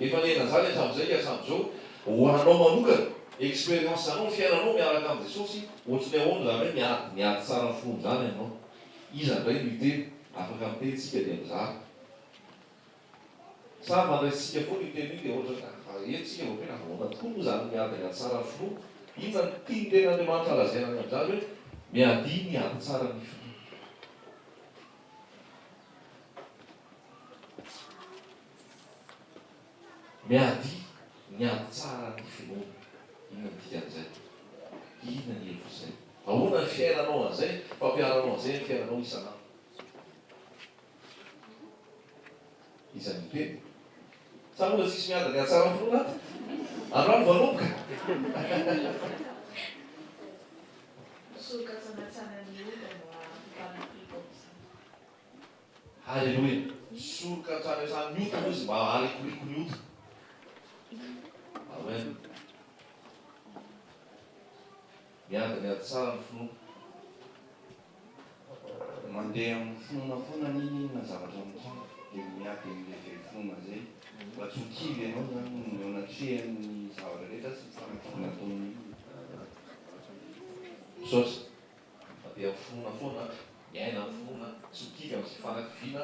Efa nihena zany hatramizay ka hatramizao ho anao manokana experience anao fiainanao miaraka am Jesosy otriny ahoana zany hoe miady miady tsara fony zany anao iza ndray no hiteny afaka miteny tsika dia mizara sa mandraisitsika fona io teny io dia otrany afa ela tsika vao tena ahoana tokoa mo zany miady miady tsara finoa inona no tiny tena Andriamanitra lazaina any amzany hoe miadia miady tsara ny finoa. Miady, niady tsara ny finoana. Inona ny dikan'izay? Inona ny hevitr'izay? Ahoana ny fiainanao an'izay? Fampiharanao an'izay ny fiainanao isan'andro. Iza no miteny? Sa moa tsisy miady niady tsara ny finoana ato? Androany voanomboka. Misoroka tsanatsana ny ombana, Bala Pribom. Haleloia! Misoroka hatrany hatrany ny ota aloha izy mba haharikoriko ny ota. Amen. Miady miady tsara ny finoana. Mandeha amin'ny finoana foana na inona inona zavatra mitranga dia miady amin'ilay very finoana izay mba tsy ho kivy ianao izany eo anatrehan'ny zavatra rehetra sy ny fanafody nataon'ny olona. Misaotra. Mandeha amin'ny finoana foana, miaina amin'ny finoana, tsy mikiry amin'izay fanakiviana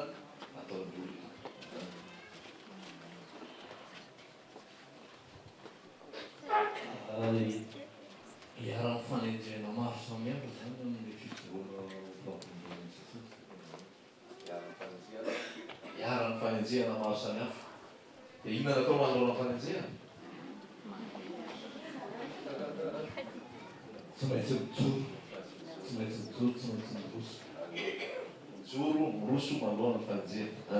ataon'ny olona. Ary iharan'ny fanenjehana maro samihafa izany amin'ny fijoroana ho mpanompon'i Jesoa. Iharan'ny fanenjehana maro samihafa. Dia inona no atao manoloana ny fanenjehana? Tsy maintsy mijoro, tsy maintsy mijoro, tsy maintsy miroso. Mijoro, miroso manoloana ny fanenjehana.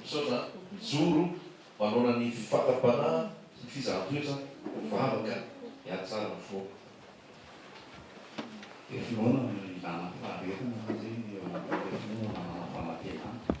Misaotra an! Mijoro manoloana ny fifakam-panahy sy ny fizahan-toetra mivavaka mihatsara ny fo. Dia finoana no ilana faharetana fa zay ny eo anatrefa finoana manana fanantenana.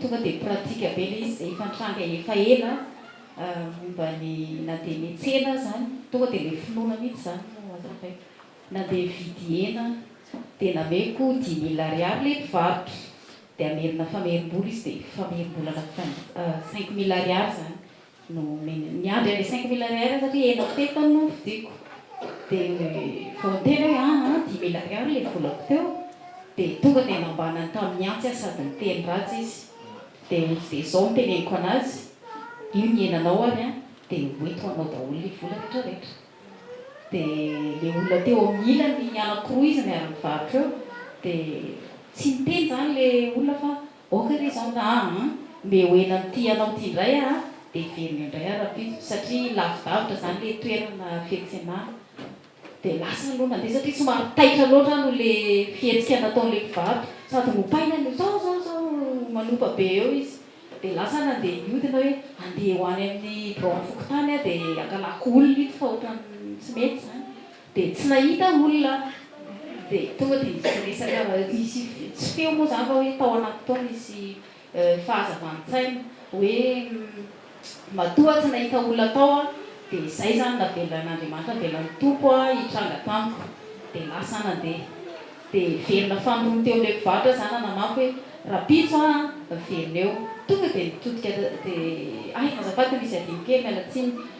Tonga dia pratique be ilay izy izay efa nitranga efa ela momba ny na dia ny tsena aza any, tonga dia ilay finoana mihitsy izany no azo lazaina. Nandeha hividy hena dia nameko dimy mille ariary ilay mpivarotra dia hamerina famerim-bola izy dia famerim-bola cinq mille ariary izany. no omeny. Niandry an'ilay cinq mille Ariary aho satria enina feta no novidiako. Dia vao niteny aho hoe aa dimy mille Ariary ilay volako teo dia tonga dia nambanany tamin'ny antsy aho sady niteny ratsy izy. Dia hoy izy dia izao no teneniko an'azy, io ny henanao ary an, dia ho eto ho anao daholo ilay vola rehetra rehetra. Dia ilay olona teo amin'ny ilany anakiroa izy miara-mivarotra eo dia tsy niteny izany ilay olona fa Ok re zany ra an! mbe ho ela aty ianao ty ndray ah de hiverina indray ah rapito satria lavidavitra zany le toerana fiantsenana de lasa aloha nandeha satria somary taitra loatra aloha le fihetsika nataon'le mpivarotra sady nopaina ny zao zao zao manopa be eo izy de lasa nandeha niodina hoe handeha ho any amin'ny biraon'ny fokontany ah de angalako olona ito fa ohatran'ny tsy mety zany Dia tsy nahita olona aho dia tonga dia nisy resaka nisy tsy feo moa izany fa hoe tao anaty tao nisy fahazavan-tsaina hoe matoa tsy nahita olona tao aho dia izay izany navelan'Andriamanitra navelan'ny Tompo aho hitranga tamiko dia lasa nandeha dia velona fanirony teo amin'ilay mpivarotra izany nanamafy hoe rahampitso aho velona eo tonga dia nitodika dia hay azafady misy adino kely miala tsiny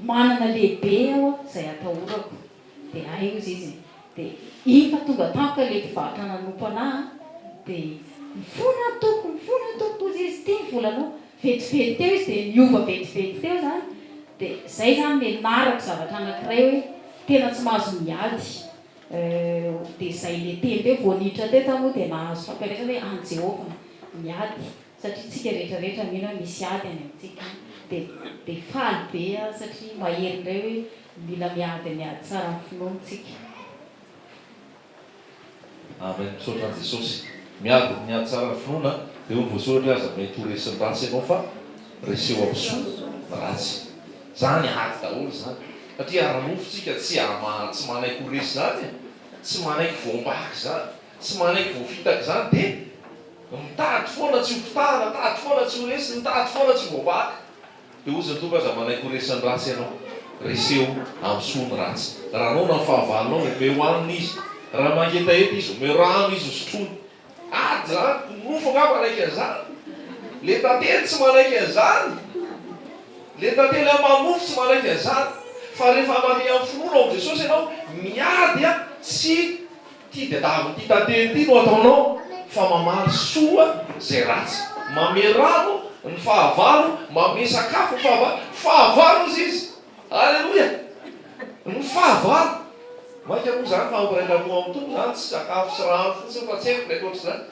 Manana lehibe aho a izay atahorako de hainy izy izy de iny fa tonga tampoka le mpivarotra nanompo anah a de mifona aho tompoko mifona aho tompoko hozy izy ty ny volanao vetivety teo izy de niova vetivety teo zany de zay zany nianarako zavatra anakiray hoe tena tsy mahazo miady de zay le teny teo vao niditra teto aho moa de nahazo fampianarana hoe any Jehovah miady satria tsika rehetra rehetra mino hoe misy ady any amintsika de de faly be aho satria mahery indray hoe mila miady miady tsara ny finoana tsika. Amen misaotra an'i Jesosy. Miady miady tsara ny finoana de hoy ny voasoratra hoe aza mety ho resin'ny ratsy ianao fa reseho amin'ny soa ny ratsy. Zany ady daholo zany satria ara-nofo tsika tsy tsy manaiky ho resy zany e, tsy manaiky voambaka zany. Tsy manaiky voafitaka izany dia mitady foana tsy ho kitahana, mitady foana tsy ho resy, mitady foana tsy ho voavaky. Dia hozy ny Tompo, Aza manaiky ho resin'ny ratsy ianao. Reseho amin'ny soa ny ratsy. Raha noana ny fahavalonao, omeo hanina izy. Raha mangetaheta izy, omeo rano izy hosotroiny. Ady izany! Ny nofo angaha manaiky an'izany? Ilay tantely tsy manaiky an'izany! Ilay tantely aman'nofo tsy manaiky an'izany! Fa rehefa mandeha amin'ny finoana ao amin'i Jesosy ianao, miady tsy. Ty diadavo ty tantely ty no ataonao fa mamaly soa zay ratsy mame rano ny fahavalo mame sakafo ny fahavalo fahavalo izy izy aleloia ny fahavalo maika moa zany fa ampirailamoa am tompo zany tsy sakafo sy rano fotsiny fa tsy haiko mety otrizany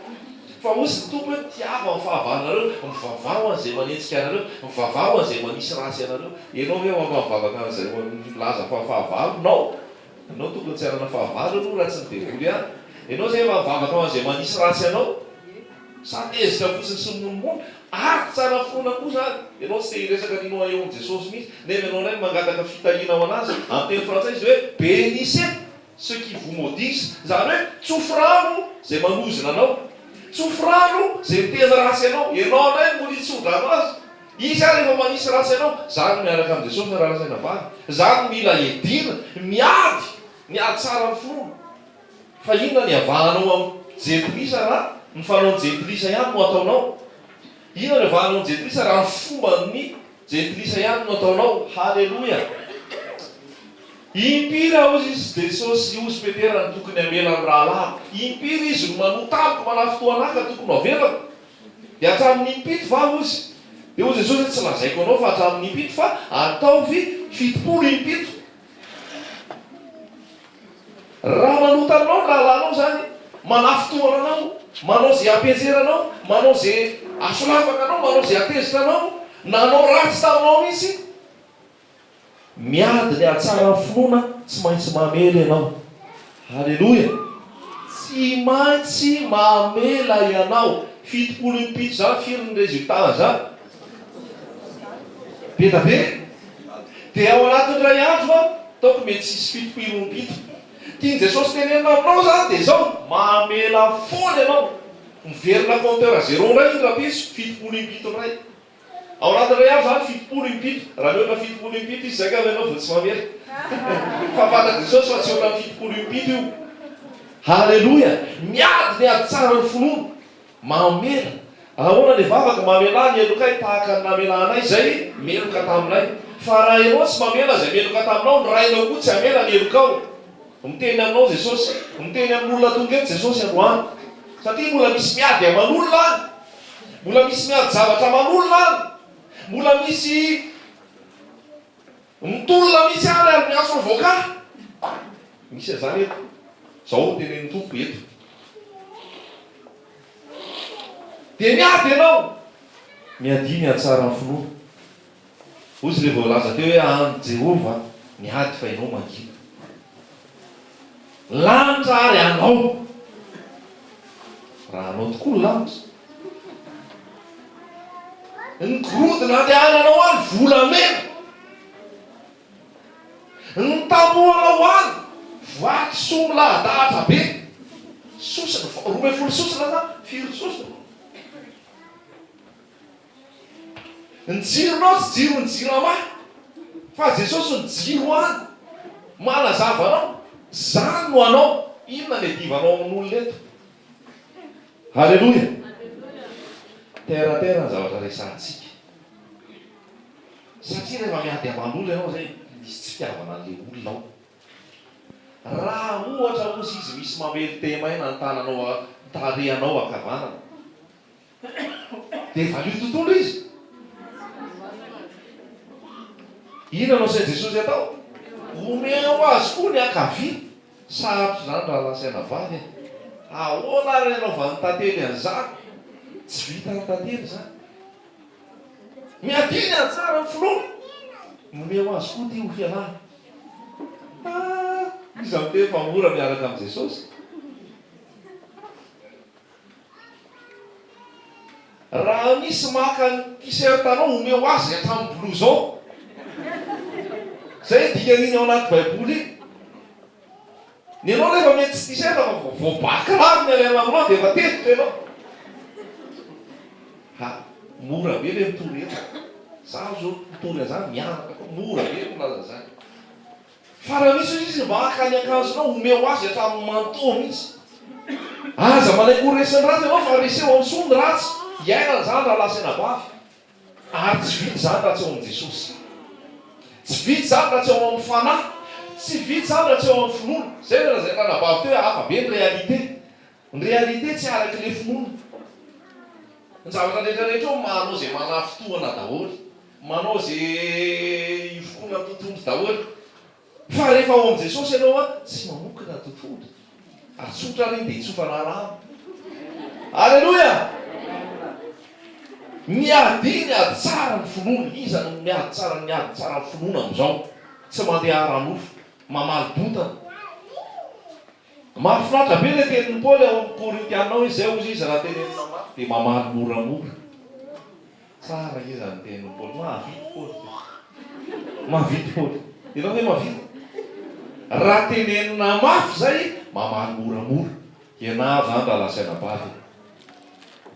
fa ozy ny tompo hoe tiava ny fahavalonareo mivavaho an zay manenjika anareo mivavaho an zay manisy ratsy anareo enao ve ho afaka mivavaka an zay milaza fa fahavalo nao Ianao tokony tsy hanana fahavalo aloha raha tsy ny devoly ihany. Ianao izay efa mivavaka ho an'izay manisy ratsy anao. Sa tezitra fotsiny sy mimonomono? Ady tsara foana koa izany. Ianao tsy te hiresaka ny Noyon-n'i Jesosy mihitsy, nefa ianao indray no mangataka fitahiana ho an'azy. Amin'ny teny frantsay izy hoe Benissez ceux qui vous maudissent, izany hoe tsofirano izay manozona anao. Tsofirano izay miteny ratsy anao. Ianao indray no mody hitsodrano azy. Izy ary efa manisy ratsy anao. Za no miaraka amin'i Jesosy na raraka na vary. Za no mila hiadiana, miady ny hahatsara ny finoana. Fa inona ny hiavahanao amin'ny jentilisa raha ny fanaon'ny jentilisa ihany no ataonao? Inona ny hiavahanao amin'ny jentilisa raha ny fomban'ny jentilisa ihany no ataonao? Haleloia! Impiry aho izy sy Jesosy sy ozy Petera no tokony hamela ny rahalahiko? Impiry izy no manota amiko, manafintohana ahy ka tokony ho avelako? Dia hatramin'ny impito va, hozy? Dia hoy Jesosy, Tsy lazaiko anao fa hatramin'ny impito, fa ataovy fitopolo impito. Raha manota aminao ny rahalahinao izany, manafintohina anao, manao izay hampihajera anao, manao izay hasolafaka anao, manao izay hatezitra anao, nanao ratsy taminao mihitsy, Miady ny hahatsara ny finoana tsy maintsy mamela ianao. Aleloia! Tsy maintsy mamela ianao. Fitopolo amy pito zany firy ny resultat zany? Be da be. Dia ao anatin'ny iray andro an, ataoko mety tsy hisy fitopilo amy pito. Tian'i Jesosy tenenina aminao zany dia zao, mamela foana ianao. Miverina compteur zero indray iny rapiso, fitopolo amy pito indray. Ao anatin'ny iray andro zany fitopolo impito, raha mihoatra fitopolo impito izy zay ngamba ianao vao tsy mamery? Fa fantatr'i Jesosy fa tsy ohatran'ny fitopolo impito io. Haleloia! Miady ny ady tsara ny finoana. Mamela. Ahoana ny vavaka? Mamelà ny helokay tahaka ny namelà anay izay meloka taminay. Fa raha ianao tsy mamela izay meloka taminao, ny Rainao koa tsy hamela ny helokao. Miteny aminao Jesosy. Miteny amin'olona tonga eto Jesosy androany. Satria mbola misy miady aman'olona any. Mbola misy miady zavatra aman'olona any, mbola misy mitolona mihitsy any ary miantso ny voka. Misy an'izany eto. Izao no tenenin'ny Tompo eto. Dia miady ianao, miadia ny hatsaran'ny finoana. Hoy izy, Dia voalaza teo hoe, Andry Jehovah ny ady fa ianao mangina. Ny lanitra àry anao. Raha anao tokoa ny lanitra. Ny gorodona andehananao any volamena. Ny tapohanao any vatosoa milahadahatra be. Sosona, roa ambin'ny folo sosona sa firy sosona? Ny jironao tsy jiron'ny jirama fa Jesosy no jiro any manazava anao, zany no anao, inona ny adivanao amin'olona eto? Aleloia! Terre à terre ny zavatra resahantsika satria rehefa miady aman'olona ianao zay misy tsy fitiavana an'le olona ao, raha ohatra ozy izy misy mamely thème aina ny tananao tarehanao ankavanana, Dia valio tontolo izy. Inona no asain'i Jesosy atao? Omeo ho azy koa ny ankavia. Sarotra izany raha lasaina vavy e! Ahoana ary ny anaovan'ny tantely an'izany? Tsy vitan'ny tantely izany. Miadidy anjara ny finoana. Nomeo ho azy koa ity ho fialana. Ah! Iza miteny fa mora miaraka amin'i Jesosy? Raha misy maka ny t-shirt anao omeo azy hatramin'ny blouson. Izay dikan'iny ao anaty baiboly iny. Ny anao nefa mety tsy t-shirt fa vao vao ba kiraro ny alaina aminao dia efa tezitra ianao. Ha, mora be ve mitory eto? Izaho izao mitory an'izany mianaka koa mora be ny milaza an'izany. Fa raha misy izy mba haka ny akanjonao, omeo azy hatramin'ny manteau mihitsy. Aza manaiky ho resin'ny ratsy ianao fa reseho amin'ny soa ny ratsy. Iainana izany raha lasa anabavy. Ary tsy vita izany raha tsy ao amin'i Jesosy. Tsy vita izany raha tsy ao amin'ny Fanahy. Tsy vita izany raha tsy ao amin'ny finoana. Izay no lazain'ny ranabavy teo hoe hafa be ny réalité. Ny réalité tsy araka ilay finoana. Ny zavatra rehetra rehetra eo manao izay manafintohina daholo. Manao ze ivokoana totohondry daholo. Fa rehefa ao amin'i Jesosy ianao a, tsy mamokona totohondry. Ary tsotra ary iny dia itsofana alamo. Aleloia! Niadiny ady tsara ny finoana. Iza no miady tsara ny miady tsara ny finoana amin'izao? Tsy mandeha ara-nofo. Mamaly bontana. Mahafinaritra be ilay tenin'i Paoly ao amin'ny Korintiana ao, izay hozy izy raha tenenina mafy dia mamaly moramora. Tsara iza ny tenin'i Paoly? Mahavity Paoly ve? Mahavity Paoly. Ianao ve mahavity? Raha tenenina mafy izay, mamaly moramora. Ianao izany raha lazaina bado hoe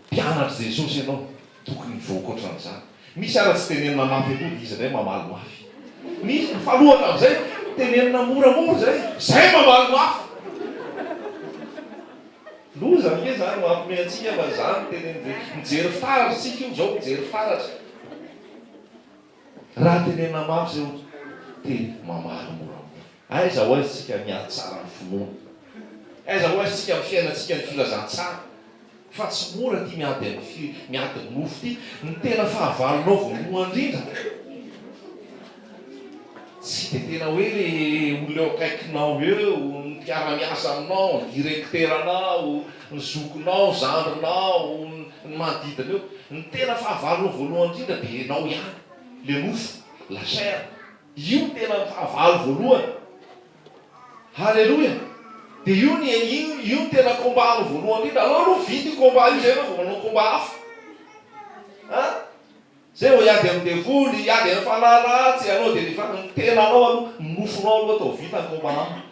mpianatr'i Jesosy ianao, tokony hivoaka ohatran'izany. Misy ara tsy tenenina mafy akory dia izy indray mamaly mafy. Misy mifanohitra amin'izay, tenenina moramora izay, izay mamaly mafy. Loza ange zany mampme antsika fa zany no teneniny ve? Mijery fitaratra tsika io zao mijery fitaratra. Raha tenenina mafy zay ohatry te mamaly moramora. Aiza ho aiza tsika miady tsara ny finoana? Aiza ho aiza tsika am fiainantsika ny filazantsara? Fa tsy mora ty miady am miady nofo ty. Ny tena fahavalonao voalohan drindra. Tsy dia tena hoe olona eo akaikinao eo, ny mpiara-miasa aminao, ny direkteranao, ny zokinao, zandrinao, ny manodidina eo. Ny tena fahavalony voalohany indrindra dia ianao ihany, ilay nofo, la chair. Io no tena fahavalo voalohany. Haleloia! Dia io no io no tena combat-nao voalohany indrindra. Aleo aloha vita io combat io izay ianao vao manao combat hafa. An! Zay vao hiady amin'ny devoly, hiady amin'ny fanahy ratsy ianao dia ny ny tenanao aloha, ny nofonao aloha atao vita ny combat aminy.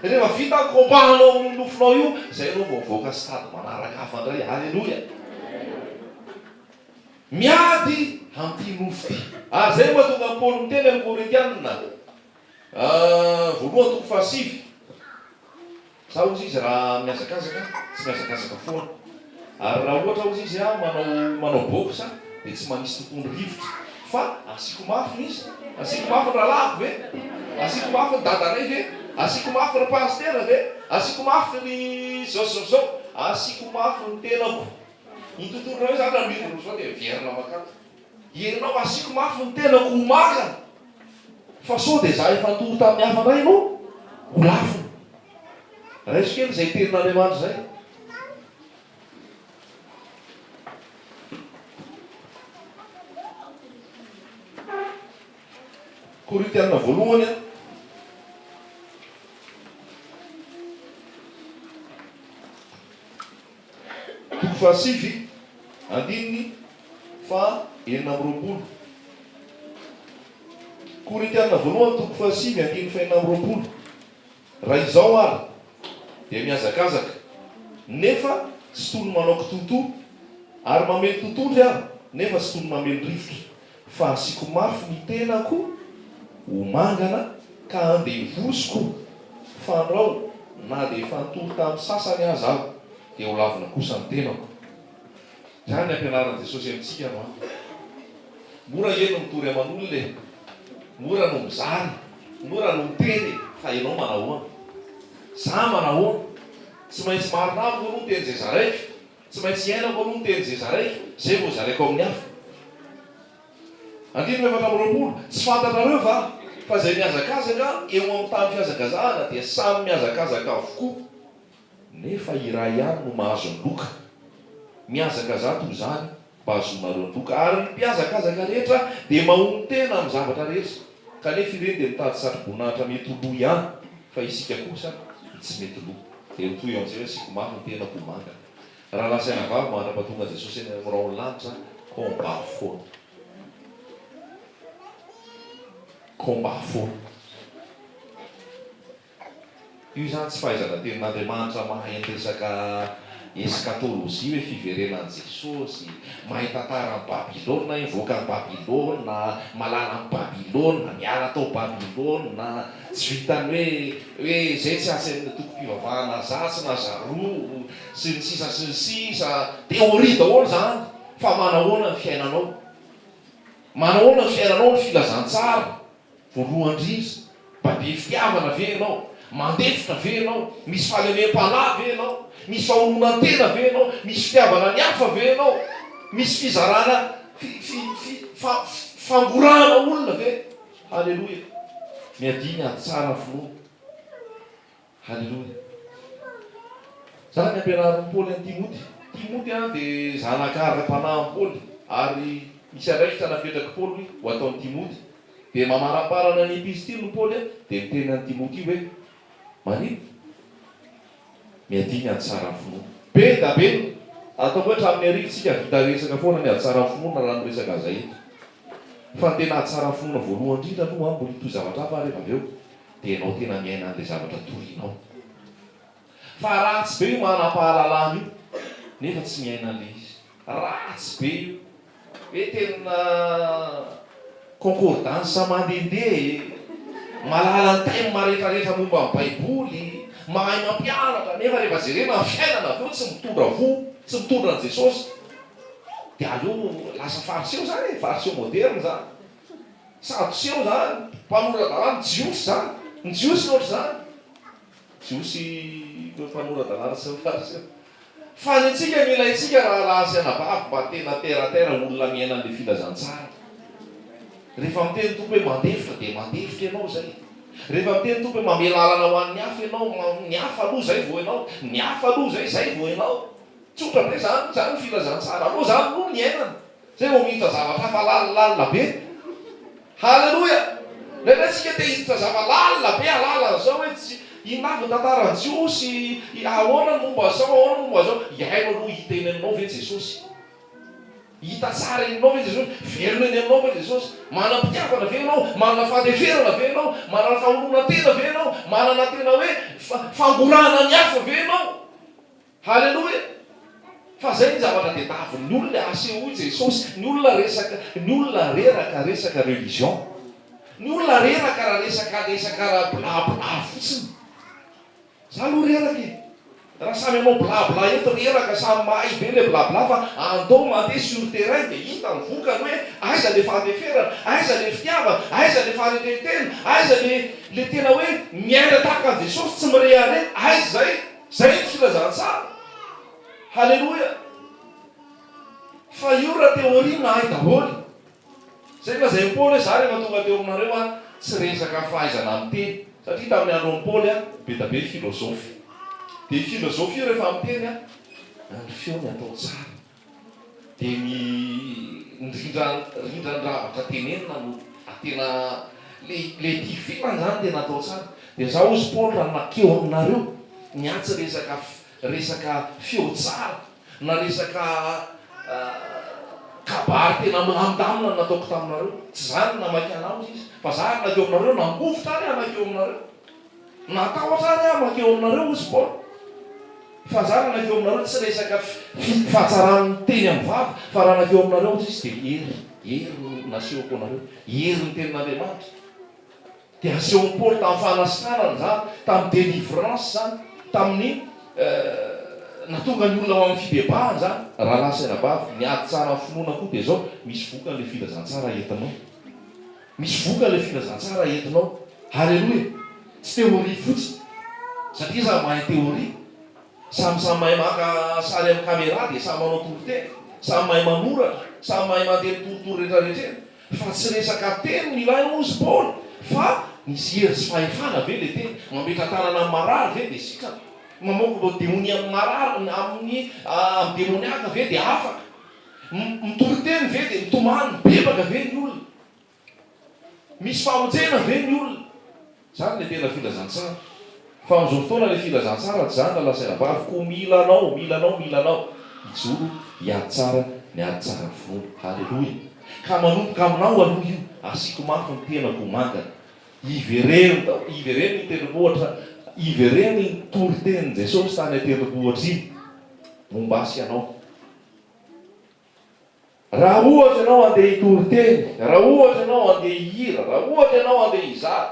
Rehefa vita ny combat anao amin'io nofonao io, zay anao vao mivoaka stade manaraka hafa indray. Aleloia! Miady amin'ity nofo ity. Ary zay no mahatonga an'i Paoly miteny amin'ny Korintiana, voalohany toko fahasivy. Za ozy izy raha mihazakazaka tsy mihazakazaka foana ary raha ohatra ozy izy a manao manao box a de tsy manisy tokony rivotra fa asiko mafy ny izy asiko mafy ny rahalahiko ve asiko mafy ny dadanay ve asiko mafy ry pasitera ve asiko mafy ry zao sy zao sy zao asiko mafy ny tenako ny tontolo raha hoe za raha miroa roa zao de miverina makany. Ianao asiako mafy ny tenako ho manga fa sao dia za efa nitory tamin'ny hafa indray no ho lafony. Raiso kely izay tenin'Andriamanitra izay. Korintiana voalohany a. Toko fahasivy, andininy faha enina amby roapolo. Korintiana voalohany toko fahasivy andininy faha enina amby roapolo, Raha izao ary, dia mihazakazaka, nefa tsy toy ny manao kitoatoa, ary mamely totohondry aho, nefa tsy toy ny mamely rivotra. Fa asiako mafy ny tenako ho mangana ka andevoziko fa andrao na dia efa nitory tamin'ny sasany aza aho dia ho lavina kosa ny tenako. Izany ny ampianaran'i Jesosy amintsika no hany. Mora ange no mitory aman'olona e! Mora no mizara, mora no miteny e! Fa ianao manahoana? Za manahoana? Tsy maintsy marina amiko aloha ny teny izay zaraiko? Tsy maintsy iainako aloha ny tenin'izay zaraiko, izay vao zaraiko amin'ny hafa. Andininy efatra amby roapolo, Tsy fantatrareo va fa izay mihazakazaka eo amin'ny tany fihazakazahana dia samy mihazakazaka avokoa, nefa iray ihany no mahazo ny loka? Mihazakazaha toy izany Bazoomareo nivoka ary ny mpihazakazaka rehetra dia mahonon-tena amin'ny zavatra rehetra kanefa ireny dia mitady satroboninahitra mety ho lo ihany fa isika kosa ny tsy mety lo dia ho toy eo amin'izay hoe asiako mafy ny tenako ho manga rahalahy sy anabavy mandra-pahatonga Jesosy any amin'ny rahon'ny lanitra combat foana combat foana. Io izany tsy fahaizana tenin'Andriamanitra mahay ny resaka eskatôlôjia hoe fiverenan'i Jesôsy, mahay tantaran'i Babylona hoe mivoaka an'i Babylona, malala an'i Babylona, miala tao Babylona, tsy vitan'ny hoe hoe izay tsy asan'ny antokom-pivavahana azatsy na zaroa, sy ny sisa sy ny sisa, théorie daholo izany, fa manahoana ny fiainanao? Manahoana ny fiainanao ny filazantsara? Voalohany indrindra, mba be fitiavana ve ianao? Mandefitra ve ianao? Misy fahalemem-panahy ve ianao? Misy fahononantena ve ianao? Misy fitiavana ny hafa ve ianao? Misy fizarana fi, fi, fi, fa, fi, fangorahana olona ve? Haleloia! Miadiana ady tsara ny finoana. Haleloia. Zany ny ampianarin'i Paoly an'i Timoty. Timoty an, dia zanaka ara-panahin'i Paoly. Ary misy andraikitra napetrak'i Paoly ho ataon'i Timoty. Dia mamaramparana ny epistiliny i Paoly an, dia miteny an'i Timoty hoe, Maninona? Miadia ny hatsaran'ny finoana. Be da be ny. Ataoko hoe hatramin'ny arivo tsika vita resaka foana ny hatsaran'ny finoana raha miresaka an'izay eto. Fa ny tena hatsaran'ny finoana voalohany indrindra aloha an, mbola hitohy zavatra hafa ary rehefa avy eo. Dia ianao tena miaina an'ilay zavatra torianao. Fa ratsy be io manam-pahalalana io nefa tsy miaina an'ilay izy. Ratsy be io. Hoe tena concordance mandehandeha e! Malala ny thème marefarefa momba ny baiboly, mahay mampianatra nefa rehefa jerena ny fiainana avy eo tsy mitondra fo, tsy mitondra an'i Jesosy. Dia aleo lasa fariseo izany e, fariseo moderne izany. Sadoseo zany, mpanora dalàna, jiosy zany, ny jiosy no ohatr'izany, jiosy mpanora dalàna sy ny fariseo. Fa ny antsika ny ilaintsika rahalahy sy anabavy mba tena terre à terre olona miaina an'le filazantsara. Rehefa miteny Tompo hoe mandefitra dia mandefitra ianao izay. Rehefa miteny Tompo hoe mamela alana ho an'ny hafa ianao, ny hafa aloha izay vao ianao, ny hafa aloha izay, izay vao ianao. Tsotra be zany, zany ny filazantsara, aloha zany aloha ny iainana, Zay vao miditra zavatra hafa lalilalina be. Haleloia! Indraindray tsika te hiditra zava lalina be halala an'izao hoe tsy inona avy ny tantaran'ny Jiosy, ahoana ny momba an'izao, ahoana ny momba an'izao. Hihaino aloha hiteny aminao ve Jesosy? Hita tsara eny aminao ve Jesosy? Velona eny aminao ve Jesosy? Manam-pitiavana ve ianao? Manana fandeferana ve ianao? Manana faholonan-tena ve ianao? Manana tena hoe fangorahana ny hafa ve ianao? Haleloia! Fa zay ny zavatra tedavin ny olona e, asehoy Jesosy, ny olona resaka, ny olona reraka resaka religion, ny olona reraka raha resaka resaka raha bla bla fotsiny, za aloha reraka e, raha samy hanao bla bla eto reraka samy mahay be le bla bla fa andao mandeha sur terrain de hita ny vokany hoe aiza le fandeferana, aiza le fitiavana, aiza le faharetentena, aiza le le tena hoe miaina tahaka an'i Jesosy tsy mirehareha, aiza zay? Izay no filazantsara. Haleloia. Fa io raha théorie nahay daholo. Izay nolazain'i Paoly hoe za rehefa tonga teo aminareo an, tsy resaka fahaizana miteny. Satria tamin'ny andron'i Paoly an, be da be filozofy. Dia io filozofy io rehefa miteny an, ny feony atao tsara. Dia ny rindran-dravaka tenenina no tena le tifi an zany tena atao tsara dia za ozy Paolo raha makeo aminareo ny atsy resaka resaka feo tsara na resaka kabary tena milamindamina nataoko taminareo tsy zany ny namaky anah ozy izy fa za ary nakeo aminareo nangovitra ary hanakeo aminareo Natahotra ary aho mankeo aminareo, hoy i Paoly. Fa izaho raha nankeo aminareo, tsy resaka fahatsaran'ny teny amin'ny vava, fa raha nankeo aminareo, hoy izy, dia hery, hery no nasehoko anareo, herin'ny tenin'Andriamanitra. Dia asehon'i Paoly tamin'ny fanasitranana izany, tamin'ny délivrance izany, tamin'ny nahatonga ny olona ho amin'ny fibebahana izany. Rahalahy sy anabavy, ny ady tsara amin'ny finoana koa dia izao, misy vokany ilay filazantsara entinao. Misy vokany le filazantsara entinao. Haleloia. Tsy théorie fotsiny. Satria iza mahay théorie. Samy samy mahay maka sary amin'ny camera dia samy manao toriteny. Samy mahay manoratra. Samy mahay mandeha mitoritory retraretrena. Fa tsy resaka teny no ilaina hozy Paoly fa misy hery sy fahefana ve le teny. Mametratanana amin'ny marary ve dia sitrana. Mamoaka demonia amin'ny marary amin'ny amin'ny demoniaka ve dia afaka. Mitoriteny ve dia mitomany? Mibebaka ve ny olona? Misy famonjena ve ny olona? Izany ilay tena filazantsara. Fa amin'izao fotoana ilay filazantsara tsy izany raha lazaina bavy koa mila anao, mila anao, mila anao. Hijoro hiady tsara ny ady tsaran'ny finoana. Haleloia. Ka manomboka aminao aloha io, asiako mafy ny tenako ho mangana. Ivereno daholo, ivereno iny tendrombohitra, ivereno iny toritenin'i Jesosy tany an-tendrombohitra iny momba ahy sy ianao. Raha ohatra ianao handeha hitory teny, raha ohatra ianao handeha hihira, raha ohatra ianao handeha hizara,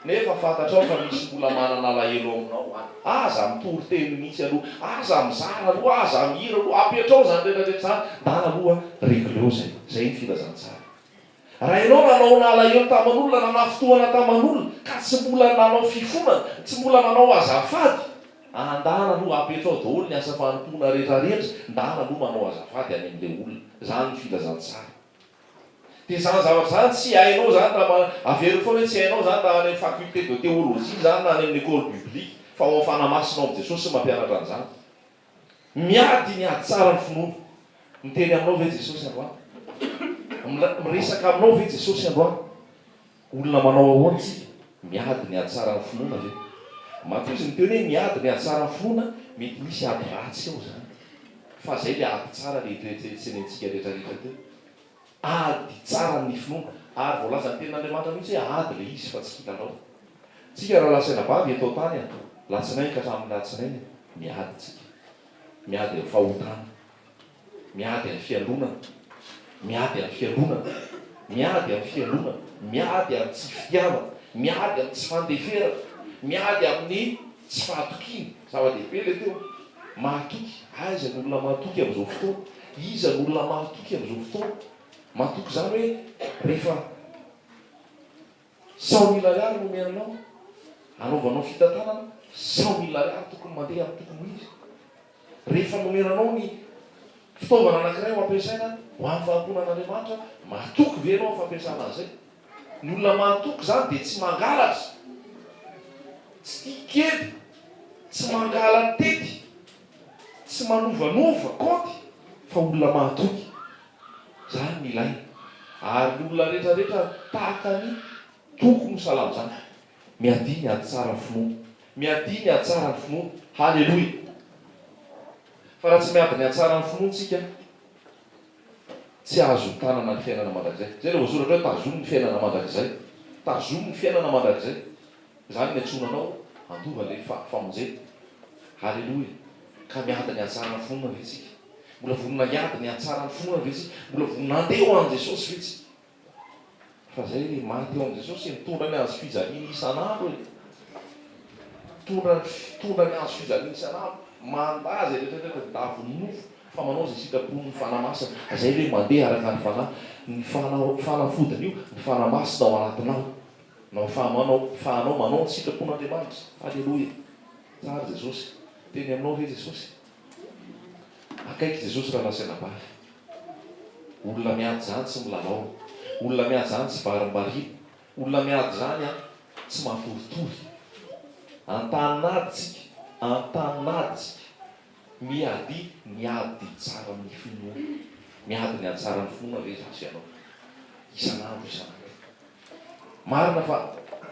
nefa fantatrao fa misy mbola manana alahelo aminao any, aza mitory teny mihitsy aloha, aza mizara aloha, aza mihira aloha, apetrao izany rehetra rehetra izany, ndana aloha, regleo izay, izay ny filazantsara. Raha ianao nanao nalahelo taman'olona, nanafintohana taman'olona, ka tsy mbola nanao fifonana, tsy mbola nanao azafady, ah, ndana aloha apetrao daholo ny asa fanompoana rehetra rehetra, ndana aloha manao azafady any amin'ilay olona. Izany ny filazantsara. Dia izany zavatra izany tsy hainao izany raha ma, averiko foana hoe tsy hainao izany raha any amin'ny faculté de théologie izany na any amin'ny école biblique, fa ao amin'ny Fanahy Masina ao amin'i Jesosy no mampianatra an'izany. Miady ny hahatsara ny finoana. Miteny aminao ve Jesosy androany? Miresaka aminao ve Jesosy androany? Olona manao ahoana isika? Miady ny hahatsara ny finoana ve? Matoa izy miteny hoe miady ny hahatsara ny finoana, mety misy ady ratsy ao izany. Fa izay ilay ady tsara ilay toe-tsaina hiantsenentsika rehetrarehetra teo. Ady tsara ny finoana. Ary voalazan'ny tenin'Andriamanitra mihitsy hoe ady ilay izy fa tsy kilalao. Tsika raha lasaina bavy eto an-tany a, latsinainy ka hatramin'ny latsinainy a, miady tsika. Miady amin'ny fahotana. Miady amin'ny fialonana. Miady amin'ny fialonana. Miady amin'ny fialonana. Miady amin'ny tsy fitiavana. Miady amin'ny tsy fandeferana. Miady amin'ny tsy fahatokiana. Zava-dehibe ilay teo. Mahatoky. Aiza ny olona mahatoky amin'izao fotoana? Iza ny olona mahatoky amin'izao fotoana? Mahatoky izany hoe rehefa cent mille ariary no omena anao, hanaovanao fitantanana, cent mille ariary tokony mandeha amin'ny tokony ho izy. Rehefa nomena anao ny fitaovana anankiray ho ampiasaina ho amin'ny fanompoana an'Andriamanitra, mahatoky ve ianao amin'ny fampiasana an'izay? Ny olona mahatoky izany dia tsy mangalatra, tsy tia kely, tsy mangala an-tety, tsy manovanova kaonty fa olona mahatoky. Izany no ilaina ary ny olona rehetrarehetra tahaka ny toko no salama izany. Miadia ny ady tsara ny finoana. Miadia ny ady tsara ny finoana. Haleloia! Fa raha tsy miady ny ady tsara ny finoana isika, Tsy azo tanana ny fiainana mandrakizay. Izay ilay voasoratra hoe tazomy ny fiainana mandrakizay. Tazomy ny fiainana mandrakizay. Izany no iantsoana anao handova ilay famonjena. Haleloia. Ka miady ny hahatsara ny finoana ve tsika? Mbola vonona hiady ny hahatsara ny finoana ve tsika? Mbola vonona handeha ho an'i Jesosy ve tsika? Fa zay le maty eo am Jesosy e, mitondra ny hazo fijaliany isan'andro e. Mitondra ny fitondra ny hazo fijaliany isan'andro. Mandà zay rehetra rehetra ny davon'ny nofo fa manao zay sitrapon'ny Fanahy Masina. Zay le mandeha araka ny Fanahy. Ny Fanahy fanafodiny io, ny Fanahy Masina ao anatinao. Nao fahamanao fahanao manao ny sitrapon'Andriamanitra. Aleloia. Tsara Jesosy. Teny aminao ve Jesosy? Akaiky Jesosy raha nasena bala. Olona miady izany tsy milalao. Olona miady izany tsy varimbariana. Olona miady izany an, tsy matoritory. Antanin'ady tsika, antanin'ady tsika. Miady ny ady tsara amin'ny finoana. Miady ny ady tsara amin'ny finoana ve za sy ianao? Isan'andro, isan'andro. Marina fa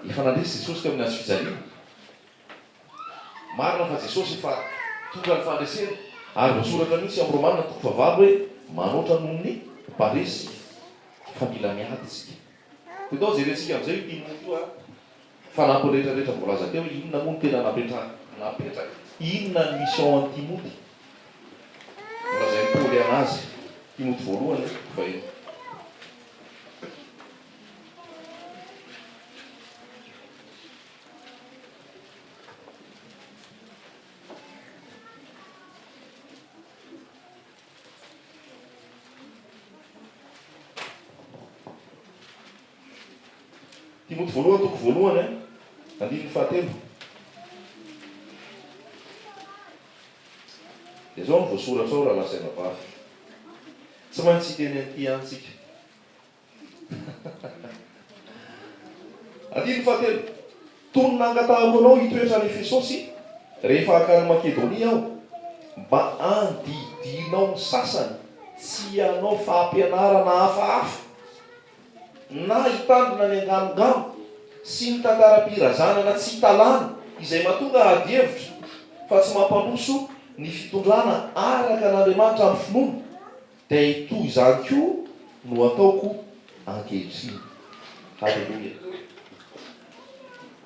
efa nandresy Jesosy teo amin'ny hazofijaliana. Marina fa Jesosy efa tonga ny fandresena ary voasoratra mihitsy ao Romana toko fahavalo hoe manoatra noho ny mparesy fa mila miady isika. Dia atao jerentsika amin'izay io inona io ary fanampiny rehetra rehetra voalaza teo inona moa no tena napetraka, inona ny mission an'i Timoty nolazain'i Paoly an'azy, Timoty voalohany eh, toko fahenina. Timoty voalohany toko voalohany an, eh. andininy fahatelo. Dia izao no voasoratra ao rahalahy sy anabavy. Tsy maintsy hiteny an'ity ihany tsika. Andininy fahatelo, Tony nangatahanao anao hitoetra any Efesosy rehefa hankany Makedonia aho, mba handidianao ny sasany tsy hanao fampianarana hafahafa, na hitandrina ny anganongano sy ny tantaram-pirazanana tsy italana, izay mahatonga adihevitra fa tsy mampandroso ny fitondrana araka an'Andriamanitra amin'ny finoana. Dia toy izany koa no ataoko ankehitriny. Haleloia.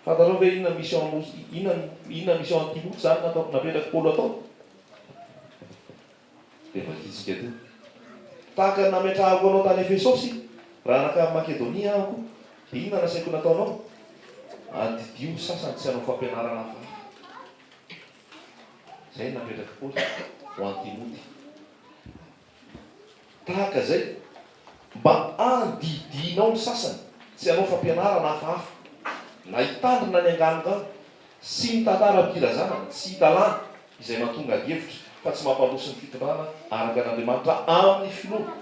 Fantatrao ve inona mission no inona inona mission an'i Timoty izany natao napetrak'i Paoly hatao? Dia vakintsika teo. Tahaka ny nametrahako anao tany Efesosy, raha nankany Makedonia aho koa, dia inona no nasaiko nataonao? Adidio ny sasany tsy hanao fampianarana hafahafa. Izay no napetrak'i Paoly ho an'i Timoty. Tahaka izay, mba handidianao ny sasany sy hanao fampianarana hafahafa, na hitandrina ny anganongano sy ny tantaram-pirazana tsy hita lany izay mahatonga adihevitra fa tsy mampandroso ny fitondrana araka an'Andriamanitra amin'ny finoana,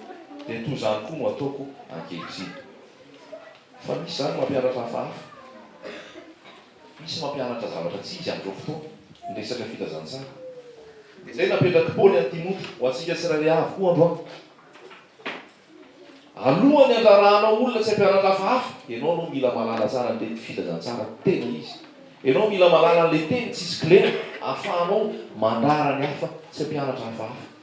dia toy izany koa no ataoko ankehitriny. Fa misy izany mampianatra hafahafa. Misy mampianatra zavatra tsy izy amin'izao fotoana ny resaka filazantsara. Dia izay napetrak'i Paoly an'i Timoty ho antsika tsirairay avy koa androany. Alohan'ny handrarahanao olona tsy hampianatra hafahafa, ianao aloha mila mahalala tsara an'ilay filazantsara tena izy. Ianao mila mahalala an'ilay teny tsisy kilema ahafahanao mandrara ny hafa tsy hampianatra hafahafa.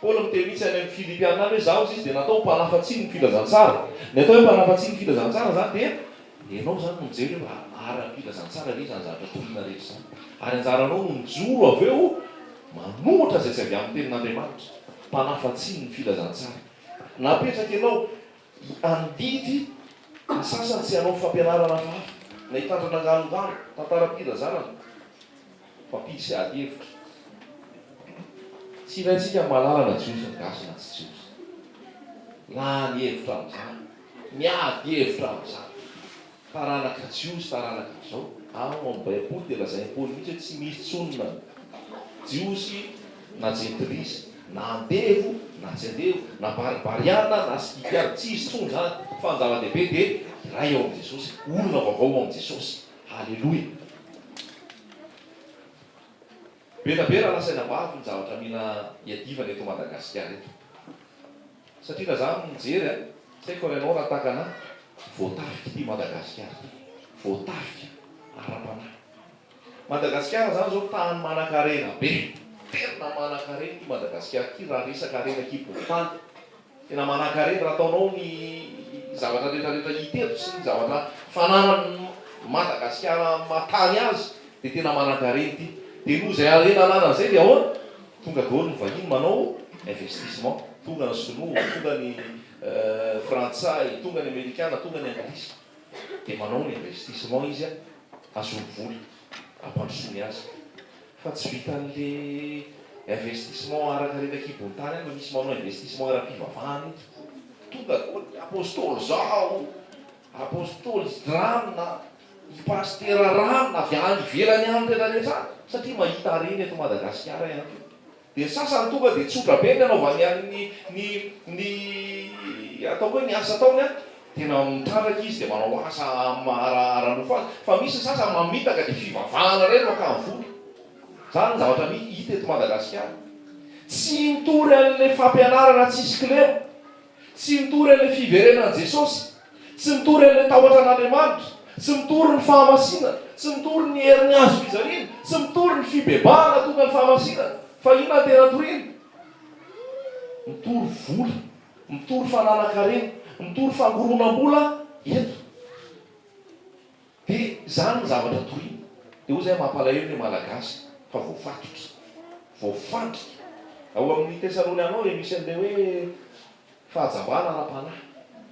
Paoly miteny mihitsy any amin'ny Filipiana any hoe izaho hoy izy dia natao ho mpanafa-tsiny ny filazantsara. Ny atao hoe mpanafa-tsiny ny filazantsara izany dia ianao izany no mijery hoe raha ara-pilazantsara ve izany zavatra toriana rehetra izany. Ary anjaranao no mijoro avy eo manohitra izay tsy avy amin'ny tenin'Andriamanitra, mpanafa-tsiny ny filazantsara. Napetraka ianao handidy ny sasany sy hanao fampianarana hafahafa, na hitandrina anganongano, tantaram-pirazanana. Mifampiditra ady hevitra. Tsy ilaintsika mahalala na jiosy ny gasy na tsy jiosy. Lany hevitra amin'izany. Miady hevitra amin'izany. Taranaka jiosy, taranaka izao. Ao amin'ny baiboly dia lazain'i Paoly mihitsy hoe tsy misy intsony na jiosy na jentilisa, na andevo na tsy andevo, na baribariana na skitiana. Tsy hisy intsony izany. Fa ny zava-dehibe dia iray ao amin'i Jesosy. Olona vaovao ao amin'i Jesosy. Haleloia! Be na be raha nasaina maro ny zavatra mila iadivana eto Madagasikara eto. Satria na za mijery a, tsy haiko raha ianao raha tahaka anah, voatafika ity Madagasikara ity. Voatafika ara-panahy. Madagasikara zany zao tany manankarena be. Tena manankarena ity Madagasikara ity raha resaka harena kibon'ny tany. Tena manankarena raha ataonao ny zavatra rehetra rehetra hita eto sy ny zavatra fananan'i Madagasikara maha tany azy dia tena manankarena ity dia noho izay harena ananany izay dia ahoana? Tonga daholo ny vahiny manao investissement, tonga ny sinoa, tonga ny frantsay, tonga ny amerikana, tonga ny anglisy dia manao ny investissement izy hahazoany vola hampandrosoany azy. Fa tsy vitan'le investissement arak'arena kibon-tany any fa misy manao investissement ara-pivavahana eto. Tonga koa ny Apostoly zao, Apostoly Dran, i Pasitera Ran avy any ivelany any rehetra rehetra any satria mahita harena eto Madagasikara ihany koa. Dia ny sasany tonga dia tsotra be ny anaovany an ny ny ny ataoko hoe ny asa ataony an, tena mitrandraka izy dia manao asa ara ara-nofo azy, fa misy ny sasany mamitaka dia fivavahana indray no akany vola, izany ny zavatra mi hita eto Madagasikara, tsy mitory an'ilay fampianarana tsisy kilema. Tsy mitory an'ilay fiverenan'i Jesosy. Tsy mitory an'ilay tahotra an'Andriamanitra. Tsy mitory ny fahamasinana. Tsy mitory ny herin'ny hazofijaliana. Tsy mitory ny fibebahana tonga ny fahamasinana. Fa inona no tena toriana? Mitory vola. Mitory fananan-karena. Mitory fangoronam-bola eto. Dia izany no zavatra toriana. Dia hoy izay mampalahelo ny Malagasy fa voafatotra, voafandrika. Ao amin'ny Tesaloniana ao dia misy an'ilay hoe fahajambana ara-panahy.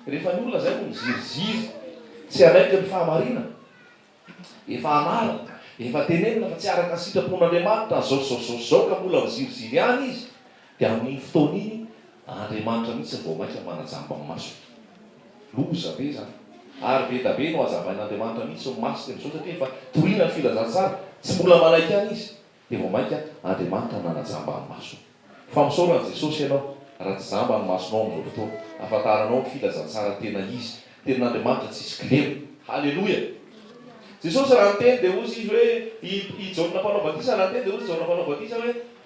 Rehefa ny olona izay no miziriziry tsy hanaiky ny fahamarinana, efa anarina, efa tenenina fa tsy araka ny sitrapon'Andriamanitra izao sy izao sy izao sy izao ka mbola miziriziry ihany izy, dia amin'iny fotoana iny, Andriamanitra mihitsy vao maika manajamba ny masony. Loza be izany. Ary be da be no hajambain'Andriamanitra mihitsy ny masony amin'izao satria efa toriana ny filazantsara, tsy mbola manaiky ihany izy dia vao maika Andriamanitra nanajamba ny masony. Fa misaora an'i Jesosy ianao raha tsy jamba ny masonao amin'izao fotoana ahafantaranao ny filazantsara tena izy, tenin'Andriamanitra tsisy kilema. Haleloia! Jesosy raha niteny dia hozy izy hoe, i Jaona Mpanao Batisa raha niteny dia hozy Jaona Mpanao Batisa hoe,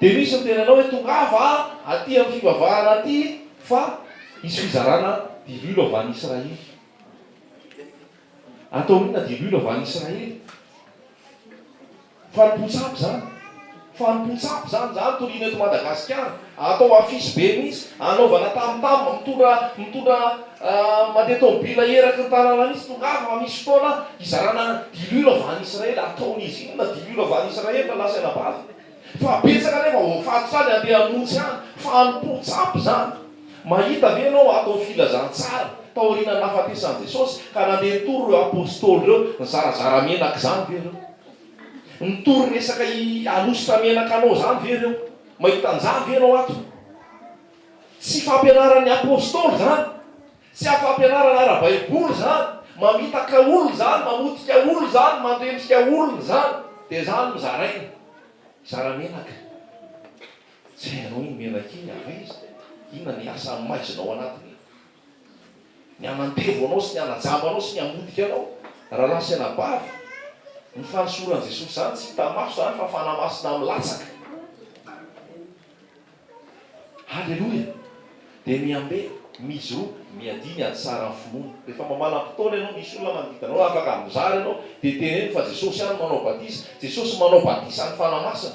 Dia misy ny tenanao hoe tongava aty amin'ny fivavahana aty fa hisy fizarana diloilo avy any Israely. Ataony inona diloilo avy any Israely? Fanompoan-tsampy izany. Fanompoan-tsampy izany, izany toriana eto Madagasikara. Atao affiche be mihitsy, anaovana tam tam, mitondra mitondra mandeha tomobila eraky ny tanàna mihitsy, tongava fa misy fotoana hizarana diloilo avy any Israely, ataon'izy inona diloilo avy any Israely raha lasa anabavy? Fa betsaka anefa voafaty zany handeha hamonjy any, fanompoa tsy ampy zany. Mahita ve ianao ato ny filazantsara taorian'ny nahafatesan'i Jesosy ka nandeha nitory ireo apostoly ireo, nizarazara menaka izany ve ireo? Nitory resaka i Alosy tamenaka anao zany ve reo? Mahita anzany ve enao ato? Tsy fampianaran'ny Apostoly zany. Tsy a fampianarana ara-baiboly zany. Mamitaka olona zany, mamotika olona zany, mandrendrika olona zany. De zany no zarainy. Zara menaka. Tsy hainao iny menaka iny avy aiza? Inona ny asa maizinao anatiny? ny hanantevo anao sy ny hanajamba anao sy ny hamotika anao rahalahy sy anabavy, ny fanosoran'i Jesosy izany tsy hita maso izany fa fanahy masina milatsaka. Haleloia! Dia mihambe, mijoroa, miadia ny haditsaran'ny finoana. Rehefa mamalam-potoana ianao, misy olona manodidina anao afaka mizara ianao, dia teneno fa Jesosy ihany manao batisa, Jesosy manao batisa ny fanahy masina,